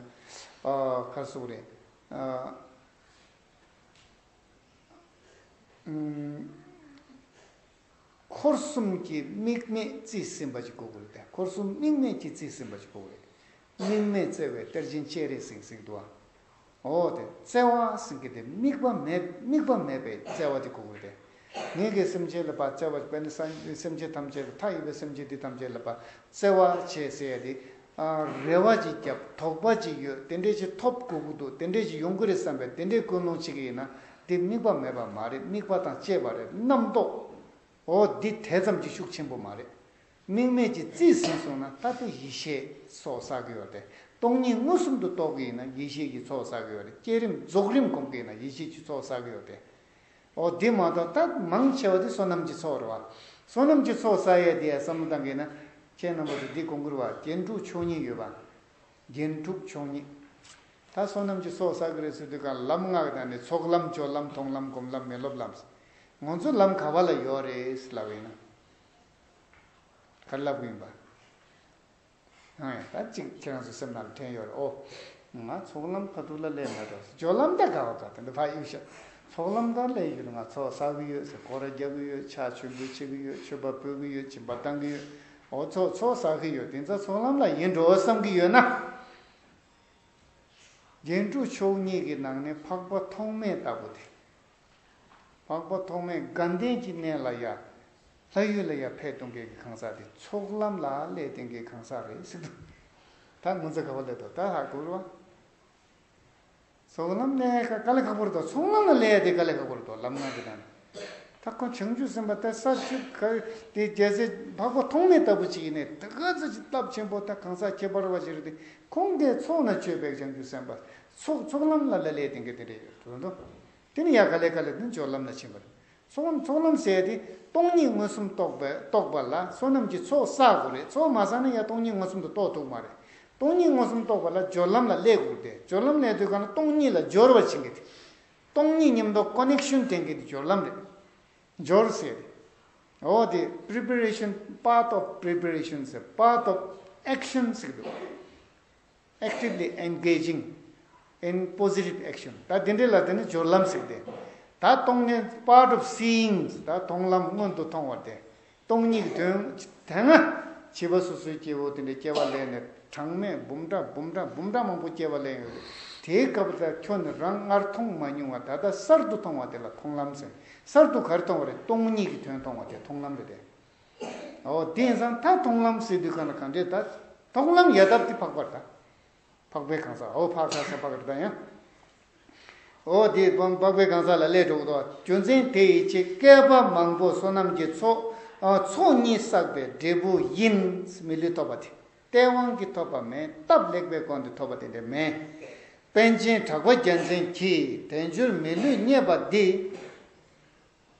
ཁ་སོགས་རེད། འཁོར་གསུམ་གྱི་དམིགས་མེད་རྩིས་ཟིན་པ་ཅིག་གོ་དགོས་རེད། འཁོར་གསུམ་དམིགས་མེད་ཀྱི་རྩིས་ཟིན་པ་ཅིག་གོ་དགོས་རེད། དམིགས་མེད་བཙལ་བའི་གཏེར་ཆེན་ཁྱེད་རེད་ཟིག་ཟིག་འདུག་ཨ། འོ་དེ་བཙལ་བ་ཟིན་གྱི་དེ་དམིགས་པ་མེད་དམིགས་པ་མེད་པའི་བཙལ་བ་དེ་གོ་དགོས་ཏེ། ངེད་ཀྱི་སེམས་ཅན་ལ་བ་ཙལ་བ་བས་ན་སེམས་ཅན་ཐམས་ཅད་ལ་མཐའ་ཡས་པའི་སེམས་ཅན་དེ་ཐམས་ཅད་ལ་བ་ཙལ་བ་བྱས་ཟེར་ཡ་དེ། རེ་བ་ཅིག་རྒྱབ་དོགས་པ་ཅིག་ཡོད་དེ་འདྲས་ཅིག་ཐོབ་དགོས་ཀྱི་འདུག་དེ་འདྲས་ཅིག་ཡོང་གི་རེད་བསམ་པའི་དེ་འདྲས་ཀུན་སློང་བྱེད་ཀྱི་ཡིན་ན་དེ་དམིགས་པ་མེད་པ་མ་རེད་དམིགས་པ་དང་བཅས་པ་རེད་རྣམ་རྟོག་འོ་འདི་དེ་ཙམ་གྱིས་ཤུགས་ཆེན་པོ་མ་རེད། དམིགས་མེད་ཀྱི་རྩིས་ཟིན་སོང་ན་ལྟ་སྟེ་ཡིད་ཤེས་སོགས་བསགས་ཀྱི་ཡོད་དེ། སྟོང་ཉིད་མངོན་སུམ་དུ་རྟོགས་ཀྱི་ཡིན་ན་ཡིད་ཤེས་ཀྱི་ཚོགས་བསགས་ཀྱི་ཡོད་དེ་བསྐྱེད་རིམ་རྫོགས་རིམ་གོམས་ཀྱི་ཡིན་ན་ཡིད་ཤེས་ཀྱི་ཚོགས་བསགས་ཀྱི་ཡོད་དེ། འོ་དེ་མ་གཏོགས་ད་མང་ཆེ་བ་དེ་བསོད་ནམས་ཀྱི་ཚོགས་རེད་བ། བསོད་ནམས་ཀྱི་ཚོགས་བསགས་ཡས་དེ་བསམ་བློ་བཏང་གི་ཡིན་ན། ཁྱེད་རྣམ་པ་ཚོ་འདི་གོང་བཀུར་བ་རྒྱན་དྲུག་མཆོག་གཉིས་ཡོད་བ། རྒྱན་དྲུག་མཆོག་གཉིས། ད་བསོད་ནམས་ཀྱི་ཚོགས་བསགས་ཀྱི་རེད་ཟེར་དུས་གང་ལབ་སྔགས་དང་ནི་ཚོགས་ལམ་སྦྱོར་ལམ་མཐོང་ལམ་སྒོམ་ལམ་མི་སློབ་ལམ། ངོ་ཚོ་ལམ་ག་བ་ལ་ཡོད་རེད་ལབ་ཡིན་ན། ཕར་ལབ་གིན་པ། ཨེ། ད་ཅིག་ཁྱེད་རང་ཚོའི་སེམས་ནང་ལ་དྲན་ཡོད་རེད་ཨོ། ང་ཚོགས་ལམ་ཕ་ཐུག་ལ་སླེབས་མེད་དོ་ཟེར་ཇོ་ལམ་དར་དགའ་བ་དང་དེ་འདྲ་ཕ་གཡུག་ཤག་ཚོགས་ལམ་དར་སླེབས་ཡོད་ང་ཚོགས་ཟ་གི་ཡོད་ཟེར་སྒོ་ར་རྒྱག་གི་ཡོད་ཕྱག་མཆོད་འབུལ་བྱེད་གི་ཡོད་མཆོད་པ་འབུལ་གི་ཡོད་སྦྱིན་པ་བཏང་གི་ཡོད་འོ་ཚོགས་ཚོགས་ཟ་གི་ཡོད་དེ་འདྲ་ཚོགས་ལམ་ལ་ཡིན་འགྲོ་བསམ་གི་ཡོད་ན། རྒྱན་དྲུག་མཆོག་གཉིས་ཀྱི་ནང་ནས་འཕགས་པ་ཐོག་མེད་ལྟ་བུ་དེ། འཕགས་པ་ཐོགས་མེད་དགའ་ལྡན་གྱི་གནས་ལ་ཡ། ལྷ་ཡུལ་ལ་ཡ་ཕད་གཏོང་མཁན་གྱི་གང་ཟག་དེ་ཚོགས་ལམ་ལ་ལས་བསྟན་མཁན་གང་ཟག་རེད་སིག་དུ་ད་ངོ་ཚ་ག་བ་ལེ་དོ་ད་ཧ་གུ་རུ་བ། ཚོགས་ལམ་ནས་ཀ་ལེ་ཁ་པོ་རུ་དོ་ཚོགས་ལམ་ལ་ལས་དེ་ཀ་ལེ་ཁ་པོ་རུ་དོ་ལམ་ངང་གི་དང་ད་ཁོང་བྱང་ཆུབ་སེམས་པ་ད་ས་བཅུ་ག་དེ་རྒྱལ་སྲས་འཕགས་པ་ཐོགས་མེད་ལྟ་བུ་ཅིག་ཡིན་ནས་ད་ག་ཚོད་ཅིག་སྟབས་ཆེན་པོ་ད་གང་ཟག་ཁྱད་པར་བ་ཞིག་རེད་དེ་ཁོང་དེ་ཚོགས་ན་ཆོས་པའི་བྱང་ཆུབ་སེམས་པ་ཚོགས་ཚོགས་ལམ་ལ་ལ་ལས་དེ་འགལ་དེ་འབྲེལ་ཡོད་དུ་འགྲོ། དེ་ནི་ཡང་ག་ལས་ག་ལས་དུ་འབྱོར་ལམ་ལ་ཕྱིན་པར། ཚོགས་ལམ་ཚོགས་ལམ་ཟད་དེ་སྟོང་ཉིད་མངོན་སུམ་རྟོགས་པའི་རྟོགས་པ་ལ་བསོད་ནམས་ཀྱི་ཚོགས་བསགས་དགོས་རེད་ཚོགས་མ་བསགས་ན་ཡང་སྟོང་ཉིད་མངོན་སུམ་དུ་རྟོགས་ཐུབ་མ་རེད། སྟོང་ཉིད་མངོན་སུམ་རྟོགས་པ་ལ་སྦྱོར་ལམ་ལ་ལས་དགོས་ཏེ་སྦྱོར་ལམ་ལས་དུས་གང་ལ་སྟོང་ཉིད་ལ་སྦྱོར་བར་བྱེད་འགལ་ཏེ། སྟོང་ཉིད་ཉམས་རྟོགས Connection དེ་འགལ་ཏེ་སྦྱོར་ལམ་རེད། སྦྱོར་ཟད་རེད། འོ་དེ Preparation Path of Preparation ཟེར Path of Action ཟེར་གི་འདུག། Actively Engaging in Positive Action ད་དེ་འདྲའི་ལ་དེ་ནི་སྦྱོར་ལམ་ཟེར་ཏེ། ད་སྟོང་ནི Part of Seeing ད་མཐོང་ལམ་མངོན་དུ་མཐོང་བ་སྟེ། སྟོང་ཉིད་ཀྱི་དོན། དེ་སྔ་བྱིས་པ་སོ་སོའི་སྐྱེ་བོ་དེ་འདྲའི་སྐྱེ་བ་ལས་ནི་གྲངས་མེད་འབུམ་ཕྲག་འབུམ་ཕྲག་འབུམ་ཕྲག་མང་པོ་སྐྱེ་བ་ལས་ཡོད་དེ། དེའི་སྐབས་ད་ཁྱོད་ནི་རང་སྔར་མཐོང་མ་མྱོང་བ་ད་ལྟ་གསར་དུ་མཐོང་བ་དེ་ལ་མཐོང་ལམ་ཟེར། གསར་དུ་ག་རེ་མཐོང་བ་རེད་སྟོང་ཉིད་ཀྱི་དོན་མཐོང་བ་དེ་མཐོང་ལམ་རེད་དེ། དེང་སང་ད་མཐོང་ལམ་སེ་འདི་གང་ལ་གང་འདྲས་ད། མཐོང་ལམ་ཡལ་འདབ་དེ་འཕགས་པར་ད། འཕགས་པའི་གང་ཟག་འོ་འཕགས་ས་ས་འཕགས་རི་ད་ཡང། འོ་དེ་འཕགས་པའི་གང་ཟག་ལ་སླད་གྲོགས་ཏོ། རྒྱུ་མཚན་དེ་ཡི་ཆེད་བསྐལ་པ་མང་པོ་བསོད་ནམས་ཀྱི་ཚོགས། ཚོགས་གཉིས་བསགས་པའི་འབྲས་བུ་ཡིན། མི་ལུས་ཐོབ་པ་དེ་ལྟའི་དབང་གིས་ཐོབ་པ་མེད་སྟབས་ལེགས་པའི་སྒོ་འདི་ཐོབ་པ་དེ་འདྲ་མེད། དཔལ་ཆེན་གྲགས་པ་རྒྱལ་མཚན་གྱིས་དལ་འབྱོར་མི་ལུས་རྙེད་པ་འདི།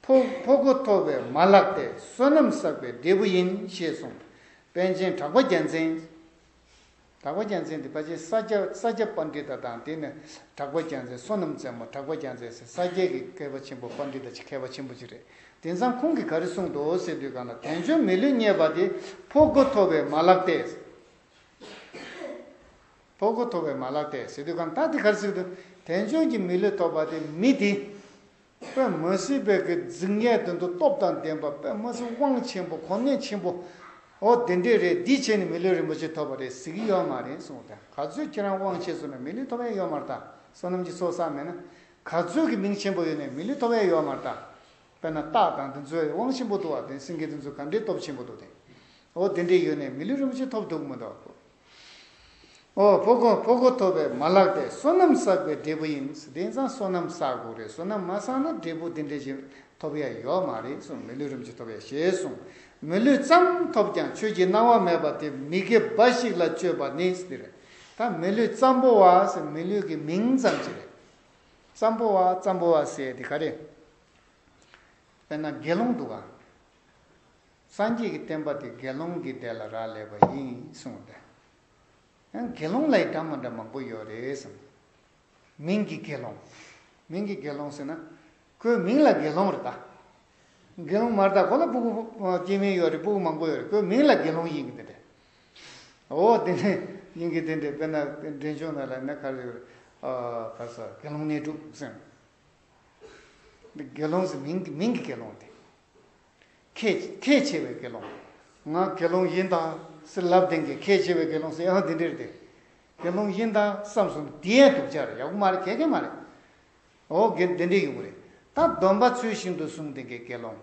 ཕོ་གོ་ཐོ་བས་མ་བརླགས་ཏེ་བསོད་ནམས་བསགས་པའི་འབྲས་བུ་ཡིན་ཞེས་གསུངས། པན་ཆེན་གྲགས་པ་རྒྱལ་མཚན། གྲགས་པ་རྒྱལ་མཚན་དེ་ཕ་ཆེན་ས་སྐྱ་ས་སྐྱ་དཔའ་འབྲི་ད་དང་དེ་ནི་གྲགས་པ་རྒྱལ་མཚན་བསོད་ནམས་རྩེ་མོ་གྲགས་པ་རྒྱལ་མཚན་ཟེར་ས་སྐྱའི་གི་མཁས་པ་ཆེན་པོ་དཔའ་འབྲི་ད་ཆེ་མཁས་པ་ཆེན་པོ་ཅིག་རེད་དེ་མཚང་ཁུང་གི་ག་རེ་གསུངས་འདུག་ཟེར་དུས་གང་ལ་དལ་འབྱོར་མི་ལུས་རྙེད་པ་དེ་ཕོ་གོ་ཐོ་བས་མ་བརླགས་ཏེ། ཕོ་གོ་ཐོ་བས་མ་བརླགས་ཏེ་ཟེར་དུས་གང་ད་དེ་ག་རེ་ཟེར་དུས་དལ་འབྱོར་གྱི་མི་ལུས་ཐོབ་པ་དེ་མི་དེ། པདྨ་སྲིད་པའི་གི་རྫིག་ངས་དོན་དུ་སྟོབས་དང་ལྡན་པ་པདྨ་སྲིད་དབང་ཆེན་པོ་གོ་གནས་ཆེན་པོ། ཨོ་དེ་འདྲས་རེད་འདིས་བྱས་ནས་མི་ལུས་རིན་པོ་ཆེ་ཐོབ་པ་རེད་ཟེར་གི་ཡོད་མ་རེད་གསུངས་དང་ག་ཚོད་ཁྱེད་རང་དབང་ཆེ་བཟོ་ན་མི་ལུས་ཐོབ་ཡས་ཡོད་མ་རེད་ད་བསོད་ནམས་ཀྱི་ཚོགས་བསགས་མེད་ན་ག་ཚོད་ཀྱི་མིང་ཆེན་པོ་ཡོད་ནས་མི་ལུས་ཐོབ་ཡས་ཡོད་མ་རེད་ད་དཔེར་ན་སྟག་དང་དེ་ཚོའི་དབང་ཆེན་པོ་འདུག་བ་དེ་སེང་གེ་དེ་ཚོ་ག་འདྲས་སྟོབས་ཆེན་པོ་འདུག་དེ་ཨོ་དེ་འདྲས་ཡོད་ནས་མི་ལུས་རིན་པོ་ཆེ་ཐོབ་འདུག་མི་འདུག། ཕོ་གོང་ཕོ་གོ་ཐོབ་པའི་མ་ལགས་པས་སོ་ནམ་བསགས་པའི་འབྲས་བུ་ཡིན་དེ་ཚང་སོ་ནམ་བསགས་དགོས་རེད་སོ་ནམ་མ་བསགས་ན་འབྲས་བུ་དེ་འདྲས་ཞིག་ཐོབ་ཡ་ཡོད་མ་རེད་གསུངས་མི་ལུས་རིམ་གྱིས་ཐོབ་ཡ་ཞེས་གསུངས་མི་ལུས་ཙམ་ཐོབ་ཀྱང་ཆོས་ཀྱི་སྣང་བ་མེད་པ་དེ་མི་དགེ་འབའ་ཞིག་ལ་སྤྱོད་པ་ནི་དེ་རེད་ད་མི་ལུས་ཙམ་པོ་བ་ཟེར་མི་ལུས་ཀྱི་མིང་ཙམ་གྱིས་རེད་ཙམ་པོ་བ་ཙམ་པོ་བ་ཟེར་དེ་ག་རེད་དཔེར་ན་དགེ་སློང་འདུག་ག། སངས་རྒྱས་ཀྱི་བསྟན་པ་དེ་དགེ་སློང་གིས་བསྡད་ལ་རག་ལས་པ་ཡིན་གསུངས་ཏེ། ཡང་དགེ་སློང་ལ་ཡི་དགྲ་མ་འདྲ་མང་པོ་ཡོད་རེད་གསུངས། མིང་གི་དགེ་སློང། མིང་གི་དགེ་སློང་ཟེར་ན། ཁོའི་མིང་ལ་དགེ་སློང་རེད་ད། དགེ་སློང་མ་རེད་ད་ཁོ་ལ་སྤུ་གུ་སྐྱེས་མིན་ཡོད་རེད་སྤུ་གུ་མང་པོ་ཡོད་རེད་ཁོའི་མིང་ལ་དགེ་སློང་ཡིན་གྱི་དེ་འདྲས། འོ་དེ་ནས་ཡིན་གྱི་དེ་འདྲས་དཔེར་ན་འདྲེན་ཆུང་ན་ལ་ནས་ཁར་ཡོད་རེད། ཁར་སོ་དགེ་སློང་གནས་དྲུག་གསུངས། དགེ་སློང་ཟེར་མིང་གི་དགེ་སློང་དེ། ཁས། ཁས་འཆེ་བའི་དགེ་སློང། ང་དགེ་སློང་ཡིན་དཱ། སི་ལབ་དེང་གི་ཁས་འཆེ་བའི་དགེ་སློང་སི་ཨང་དེ་འདྲིར་དེ། དགེ་སློང་ཡིན་དཱ་བསམ་གསུམ་དེ་ཡན་དུ་བྱར་ཡག་པོ་མ་རེད་ཁྱད་མཁན་མ་རེད། ཨོ་དགེ་འདི་འདྲའི་ཡོད་པོ་རེད། ད་སྡོམ་པ་ཚོལ་བཞིན་དུ་གསུང་དེང་གི་དགེ་སློང།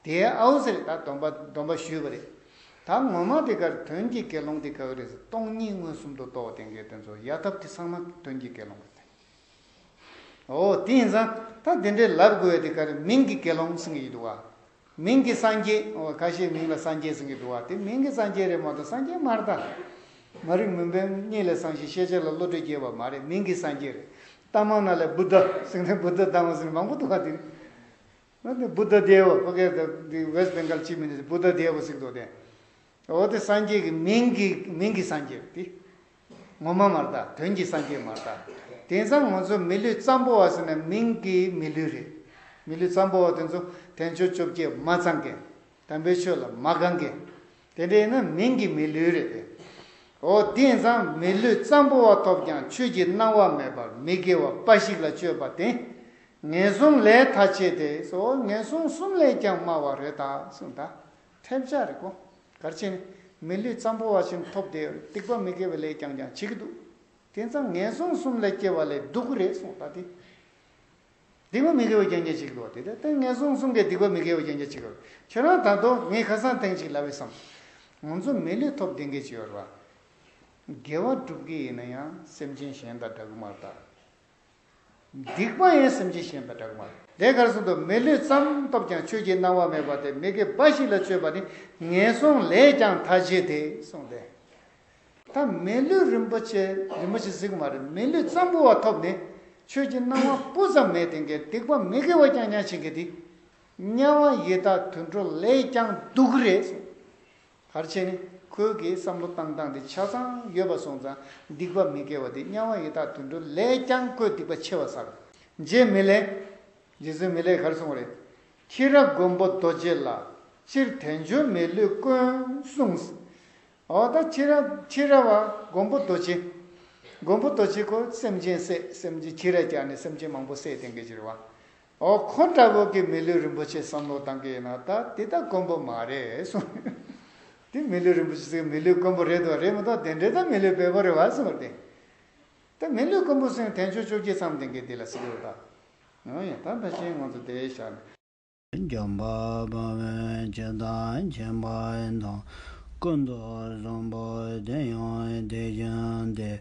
དེ་ཨའོ་ཟེར་ད་སྡོམ་པ་སྡོམ་པ་ཞུས་པ་རེད། ད་ངོ་མ་དེ་གར་དོན་གྱི་དགེ་སློང་དེ་ག་གི་རེད་ཟེར་སྟོང་གཉིས་མངོན་སུམ་དུ་རྟོགས་དེང་གི་དོན་ཚོ་ཡ་ཐབས་དེ་ཚང་མ་དོན་གྱི་དགེ་སློང་རེད། ཨོ། དེ་ཡིན་ཙང་ད་དེ་འདྲའི་ལབ་དགོས་དེ་ག་རེ་མིང་གི་དགེ་སློང་ཟེར་གྱི་ཡོད་འདུག་བ། མིང་གི་སངས་རྒྱས་ཨོ་ཁ་ཤས་མིང་ལ་སངས་རྒྱས་ཟེར་གྱི་འདུག་བ་དེ་མིང་གི་སངས་རྒྱས་རེད་མ་གཏོགས་སངས་རྒྱས་མར་ད། མ་རིག་མུན་པའི་གཉིད་ལས་སངས་ཤིང་ཤེས་བྱ་ལ་བློ་གྲོས་རྒྱས་པ་མ་རེད་མིང་གི་སངས་རྒྱས་རེད། རྟ་མང་ན་ལས Buddha ཟེར་ནས Buddha རྟ་མང་ཟེར་ནས་མང་པོ་འདུག་བ་དེ། Buddha Deva ཁོ་གས་ད་དེ West Bengal སྤྱི་མི་ནས Buddha Deva ཟེར་གྱི་འདུག་བ་དེ། ཨོ་དེ་སངས་རྒྱས་ཀྱི་མིང་གི་མིང་གི་སངས་རྒྱས་རེད་དེ། ངོ་མ་མ་རྟགས་དོན་གྱི་སངས་རྒྱས་མ་རྟགས། དེང་སང་ང་ཚོ་མི་ལུས་གཙང་པོ་བ་ཟེར་ན་མིང་གི་མི་ལུས་རེད། མི་ལུས་གཙང་པོ་བ་དེ་ཚོ་དན་ཆོས་བཅོ་བརྒྱད་མ་ཚང་མཁན། དམ་པའི་ཆོས་ལ་མ་དགའ་མཁན། དེ་འདྲ་ཡིན་ན་མིང་གི་མི་ལུས་རེད་པས། འོ་དེང་སང་མི་ལུས་གཙང་པོ་བ་ཐོབ་ཀྱང་ཆོས་ཀྱི་སྣང་བ་མེད་པར་མི་དགེ་བ་དཔའ་ཞིག་ལ་སྤྱོད་པ་དེ། ངན་སོང་ལས་ཐ་ཆད་དེ་སོ་ངན་སོང་གསུམ་ལས་ཀྱང་དམའ་བ་རེད་ད་གསུངས་ད། ཐལ་བྱ་རིག་གོ། གར་ཆེན། མི་ལུས་ཙམ་པོ་བ་བཞིན་ཐོབ་བདེ་བའི་སྡིག་པ་མི་དགེ་བའི་ལས་ཀྱང་ཀྱང་བྱེད་ཀྱི་འདུག། དེ་ཚང་ངན་སོང་གསུམ་ལས་སྐྱེ་བ་ལས་སྡུག་གི་རེད་གསུངས་ད་དེ། སྡིག་པ་མི་དགེ་བ་ཀྱང་ཀྱང་བྱེད་ཀྱི་འདུག་དེ་ལྟར་ཏེ་ངན་སོང་གསུམ་གའི་སྡིག་པ་མི་དགེ་བ་ཀྱང་ཀྱང་བྱེད་ཀྱི་རེད། ཁྱོད་རང་ད་དོ་ངས་ཁ་སང་དེང་ཅིག་ལབ་བས་སམ། ང་ཚོ་མི་ལུས་ཐོབ་བདེ་འགའི་བྱེད་པར་བ། དགེ་བ་བསྒྲུབ་གི་ཡིན་ན་ཡང་སེམས་ཅན་གཞན་དང་འདྲ་གི་མ་རེད་ད། སྡིག་པ་ཡིན་སེམས་ཅན་ཞེན་པའི་སྦྲགས་མ། དེ་གར་སོང་དུ་མི་ལུས་བརྩམ་སྟོབས་ཀྱང་ཆོས་ཀྱི་སྣང་བ་མེད་པ་སྟེ་མི་དགེ་འབའ་ཞིག་ལ་སྤྱོད་པ་ནི་ངན་སོང་ལས་ཀྱང་མཐའ་བྱེད་དེ་གསུངས་ཏེ། ད་མི་ལུས་རིན་པོ་ཆེ་རིན་པོ་ཆེ་གཟིགས་མ་རེད་མི་ལུས་གཙང་པོ་བ་ཐོབ་ནས་ཆོས་ཀྱི་སྣང་བ་སྤུ་ཙམ་མེད་དེ་འགའི་སྡིག་པ་མི་དགེ་བ་ཀྱང་མྱང་བྱེད་ཀྱི་དེ་དམྱལ་བ་ཡི་དྭགས་དུད་འགྲོ་ལས་ཀྱང་སྡུག་རེད་གསུངས། ཕར་ཕྱིན་ནི། ཁོའི་གིས་བསམ་བློ་བཏང་སྟངས་དེ་ཆ་ཚང་ཡོད་པ་སོང་ཙང་སྡིག་པ་མི་དགེ་བ་དེ་དམྱལ་བ་ཡི་དྭགས་དུད་འགྲོ་ལས་ཀྱང་ཁོས་སྡིག་པ་ཆེ་བ་བསགས། རྗེ་མི་ལས། རྗེ་བཙུན་མི་ལས་གར་སོང་བ་རེད། ཁྱི་ར་མགོན་པོ་རྡོ་རྗེ་ལ། སྤྱིར་དལ་འབྱོར་མའི་ལུས་དཀོན་གསུངས། འོ་ད་ཁྱི་ར། ཁྱི་ར་བ། མགོན་པོ་རྡོ་རྗེ། མགོན་པོ་རྡོ་རྗེ་ཁོ་སེམས་ཅན་བསད་སེམས་ཅན་ཁྱི་ར་རྒྱག་ནས་སེམས་ཅན་མང་པོ་བསད་དེང་གི་ཕྱིར་བ། འོ་ཁོ་འདྲ་བོ་གི་མི་ལུས་རིན་པོ་ཆེ་བསམ་བློ་བཏང་གི་ཡིན་ན་ད་དེ་ད་དཀོན་པོ་མ་རེད་གསུངས། དེ་མི་ལུས་རིན་པོ་ཆེ་ཟེར་མི་ལུས་དཀོན་པོ་རེད་འདུག་རེད་མི་འདུག་དེ་འདྲས་ད་མི་ལུས་བེད་པོ་རེད་བ་གསུངས་ཏེ། ད་མི་ལུས་དཀོན་པོ་གསུངས་དེ་མཆོད་བཅོ་བརྒྱད་ཚང་དེང་གི་དེ་ལ་སྲིད་ལུགས་དང། ཡང་ཡང་ད་ད་ཕྱིན་ང་ཚོ་དེ་ཞག་ནས། འཇམ་པ་དཔའ་བོན་སྤྱི་བདག་ཆེན་པོ་དང། སྐུ་མདོག་བཟང་པོ་དེ་ཡང་དེ་བཞིན་ཏེ།